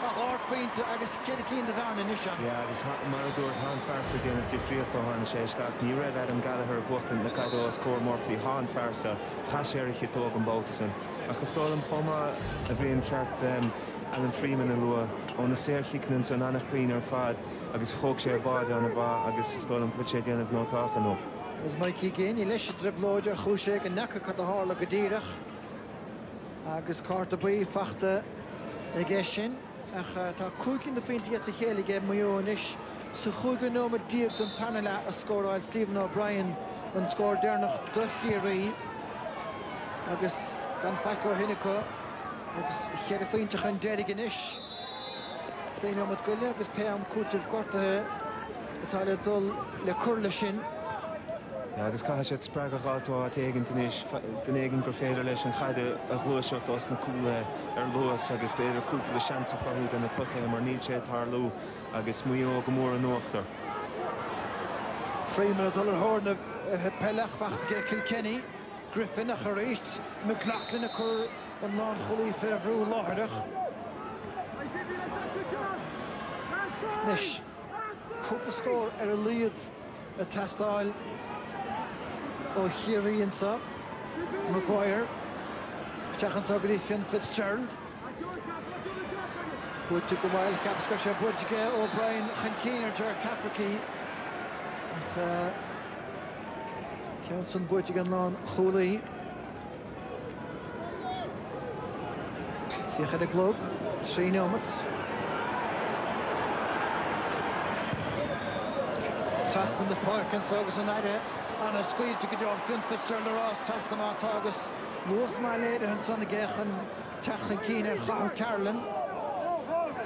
Tá dhá phointe agus ceithre cinn de bhearna anois ann. Yeah agus mar a dúrt tá an fear so ag déanamh difríocht ó tháinig sé isteach. Ní raibh Adam Gallagher ag buachtaint na caide os comhair Murphy tá an fear so. Chas sé ar a chiotóg an babhta sin. Ach is dóigh liom chomh maith a Bhriain gur cheart Alan Freeman a lua ó na saorchiceanna ansan an-chruinn ar fad agus thóg sé a bháide ana mhaith agus is dóigh liom go bhfuil sé ag déanamh nótách inniu. Agus Mikey Geaney leis i dtrioblóid ar chúis éigin n'fheaca cad a tharla go díreach. Agus cárta buí fachta aige sin ach tá cúig cinn de phointí as a chéile aige Maigh Eo anois. Sa chúigiú nóiméad déag den tarna leath a scóráil Stephen O'Brien an scór deireanach do Chiarraí agus gan faic ó shin acu agus cheithre phointe chun deiridh anois. Sé nóiméad go leith agus pé am cúitimh gortuithe. atá le dul le cur leis sin. Agus caithfidh siad spreagadh a fháil ó áit éigin anois, duine éigin gur féidir leis an chaid a ghluaiseacht ós na cúlaithe ar luas agus b'fhéidir cúpla seans a chruthú do na tosaithe mar níl sé ag tarlú agus Maigh Eo go mór in uachtar. Freeman ag dul ar thóir na peile ach fachta aige Kilkenny. Griffin ach arís McLaughlin ag cur an lánchúlaí fé bhrú láithreach. Anois. Cúpla scór ar a laghad ag teastáil ó Chiarraí anseo, Maguire, isteach anseo go dtí Fionn Fitzgerald. Buaite go maith, cheapas go raibh sé buaite aige, O'Brien chun cinn ar Ger Cafferkey. Ach an ceann san buaite ag an lánchúlaí. Féach ar an gclog, trí neomat. Trasna na páirce anseo agus an Aire ana scaoilte go deo an Fionn Fitzgerald ag rás trasna mar atá agus luas maith léirithe anseo ag féachaint. teacht chun cinn ar Chathal Carolan.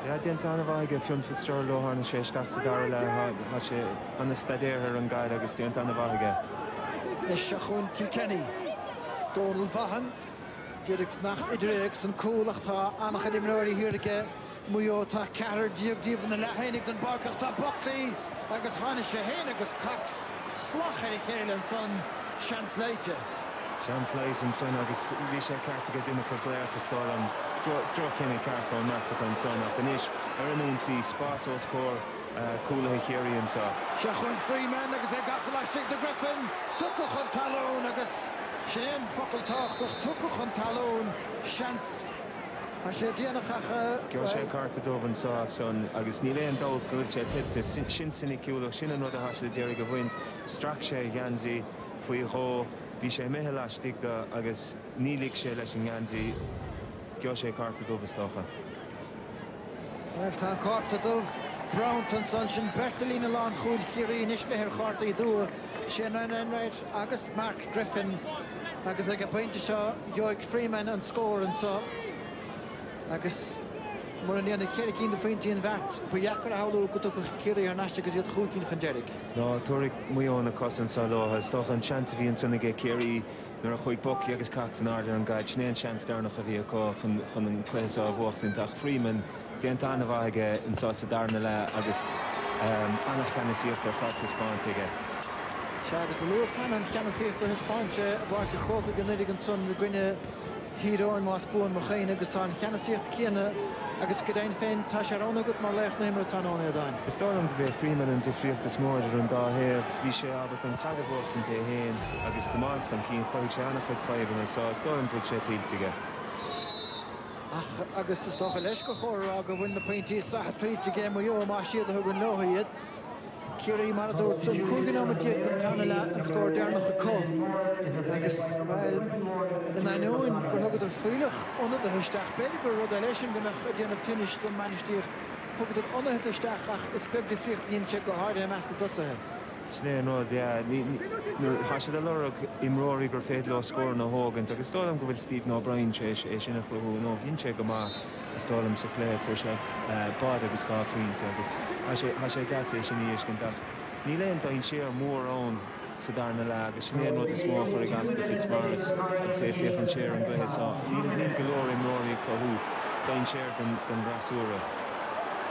Tá déanta an-mhaith aige Fionn Fitzgerald ó tháinig sé isteach sa dara leath. Tá sé an-staidéartha ar an gcaid agus déanta an-mhaith aige. Anois seo chugainn Kilkenny. Donal Vaughan, d'iarraidh fanacht idir é agus an cúl ach tá an-chuid imreoirí thiar aige. Maigh Eo, tá ceathrar déag díobh ina leath féinig den bpáirc ach tá Buckley agus tháinig sé féin agus Cox salach ar a chéile ansan. Seans loite. Seans loite ansan agus bhí sé ceart aige duine acu glaoch a scoil an droch-chinneadh ceart ón mbeirt acu ansan ach anois ar an ionsaí, spás os comhair cúlaithe Chiarraí anseo. Seo chugainn Freeman agus é gafa laistigh de Griffin. Tugtha chun talún agus sin é an focal tábhachtach, tugtha chun talún. Seans. Tá sé déanach ach. Gheobhaidh sé an cárta dubh anseo as sin agus níl aon dabht go bhfuil sé tuillte. Sin soiniciúlacht, sin an rud a chaith sé le d'iarraidh a bhaint. Strac sé a gheansaí faoi dhó, bhí sé imithe laistigh de agus ní lig sé leis an ngeansaí. Gheobhaidh sé cárta dubh, is dócha. Bhuel, tá an cárta dubh bronnta anseo ansin. Beirt de líne lánchúil Chiarraí anois, beidh ar chártaí dubha Shane Enright agus Mark Griffin. Agus ag an bpointe seo, gheobhaidh Freeman an scór anseo agus mura ndéanfaidh ceithre cinn de phointí an bheart, ba dheacair a shamhlú go dtiocfadh Ciarraí thar n-ais agus iad chúig cinn chun deiridh. Ná tabharfaidh Maigh Eo na cosa anseo leo. Is dócha an seans a bhí ansin aige Ciarraí nuair a chuaigh Buckley agus Cox in airde ar an gcaid, sin é an seans deireanach a bhí acu chun an cluiche seo a bhuachtaint ach Freeman, Déanta an-mhaith aige anseo sa darna leath agus an-cheannasaíocht ar fad taispeáinte aige. Sea, agus a luas cheana, an cheannasaíocht a thaispeáin sé i bPáirc an Chrócaigh anuraidh ansan i gcoinne Thír Eoghain más buan mo chuimhne agus tá an cheannasaíocht céanna agus go deimhin féin tá sé roghnaithe agat mar laoch na himeartha tráthnóna, a Aodáin. Is dóigh liom go b'é Freeman an difríocht is mó idir an dá thaobh. Bhí sé ábalta an caid a bhuachtaint é féin agus tiomáint chun cinn. Chruthaigh sé an-chuid fadhbanna so is dóigh liom go bhfuil sé tuillte aige. ach, agus is dócha leis, gur chóir a rá go bhfuil na pointí sraithe tuillte aige Maigh Eo, más iad a thugann leo iad. Ciarraí, mar a dúirt tú, cúig nóiméad déag don tarna leath an scór deireanach acu agus, bhuel, in ainneoin gur thugadar fuílleach ionadaithe isteach, b'fhéidir gur rud é leis sin go mbeadh ag déanamh tinnis don mbainistíocht, thugadar ionadaithe isteach ach is beag difríocht a dhein sé, go háirithe i measc na dtosaithe. Sin é an rud, yeah. Tá siad ag lorg imreoirí gur féidir leo scóranna a thógaint agus is dóigh liom go bhfuil Stephen O'Brien tar éis é sin a chruthú inniu. Dhein sé go maith, is dóigh liom, sa chluiche a fuair sé báide agus dhá phointe agus tá sé deas é sin a fheiscint ach níl aon dainséar mór ann sa darna leath agus sin é an rud is mó a chuirfidh as do Fitzmaurice agus é ag féachaint siar ar an gcluiche seo. Níl go leor imreoirí ag cruthú dainséar don bhfreasúra.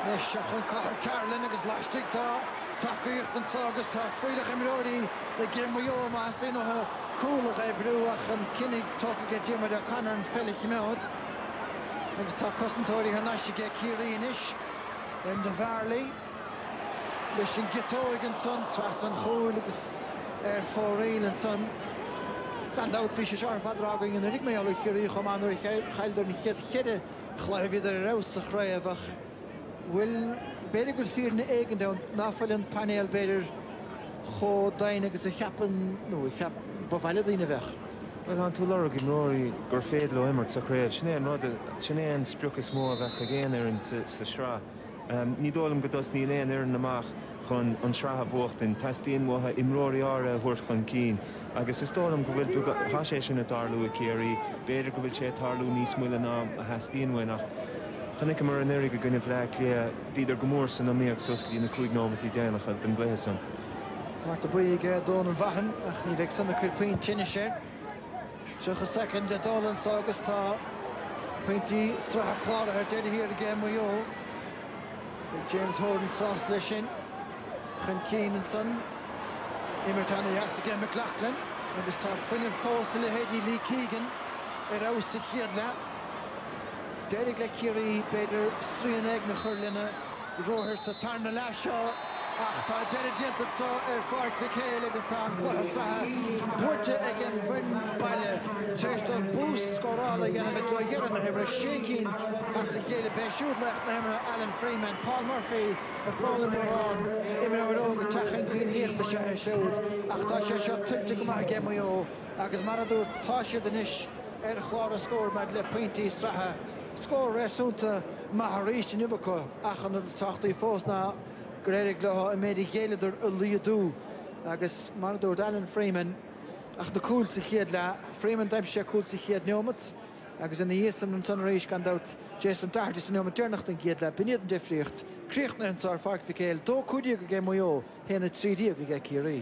Anois, chun Cathal Carolan agus laistigh, tá. tacaíocht anseo agus tá fuílleach imreoirí ag Maigh Eo má theastaíonn uathu cúl a dh'oibriú ach an cinneadh tógtha aige Diarmuid O'Connor an pheil a chimeád agus tá cosantóirí thar n-ais aige Ciarraí anois, Enda Varley leis an gciotóig ansan trasna an chúil agus ar fóraoil ansan. Gan dabht bhí sé seo ar fad á rá againn anuraidh, mar gheall ar Chiarraí chomh maith nuair a chailleadar an chéad cheithre chluiche a bhíodar ar fheabhas sa chraobh ach, Bhuel, b'fhéidir go bhfuil fírinne éigin ann ná fuil an painéal b'fhéidir chomh doimhin agus a cheapann, nó a cheap, ba mhaith le daoine a bheadh. Bhuel, tánn tú ag lorg imreoirí gur féidir leo imirt sa chraobh? Sin é an rud, sin é an sprioc is mó a bheadh ag aon fhoireann sa tsraith. Ní dóigh liom go dtosnaíonn aon fhoireann amach chun an tsraith a bhuachtaint, teastaíonn uathu imreoirí áirithe a thabhairt chun cinn. Agus is dóigh liom go bhfuil tú, tá sé sin ag tarlú i gCiarraí, b'fhéidir go bhfuil sé ag tarlú níos moille ná a theastaíonn uainn ach chonaiceamar anuraidh i gcoinne Bhleá Cliath, bhíodar go mór san iomaíocht suas go dtí na cúig nóimeataí déanacha den gcluiche san. Cárta buí ag Donal Vaughan ach ní bheidh san ag cur puinn tinnis air. 30 soicind le dul anso agus tá pointí sraithe cláraithe ar deireadh thiar ag Maigh Eo. Beidh James Horan sásta leis sin. chun cinn ansan. Imirt an-deas aige McLoughlin agus tá fuinneamh fós i leithéidí Lee Keegan ar fheabhas sa chéad leath. D'éirigh le Ciarraí, b'fhéidir, srian éigin a chur lena ruathair sa tarna leath seo ach tá deireadh déanta acu ar Pháirc Mhic Éil agus tá an cluiche sraithe buaite ag an bhfoireann baile tar éis dóibh bús scórála a dhéanamh i dtreo dheireadh na himeartha. Sé cinn as a chéile, b'é siúd laoch na himeartha Alan Freeman, Paul Murphy, Ar chuala mórán imreoir óg ag teacht chun cinn liachta seo air siúd ach tá sé seo tuillte go maith aige Maigh Eo agus mar a dúirt tá siad anois ar chlár an scóir maidir le pointí sraithe. Scór réasúnta maith arís inniu acu ach an rud is tábhachtaí fós ná gur éirigh leo an méid a ghéilleadar a laghdú agus mar a dúirt Alan Freeman, ach na cúil sa chéad leath, Freeman, d'aimsigh sé cúl sa chéad neomat. Agus ina dhiaidh san ansan arís, gan dabht, Jason Doherty sa neomat deireanach den gcéad leath, b'in iad an difríocht. Críochnaithe anso ar Pháirc Mhic Éil, 2, 15 aige Maigh Eo, 1, 13 aige Ciarraí.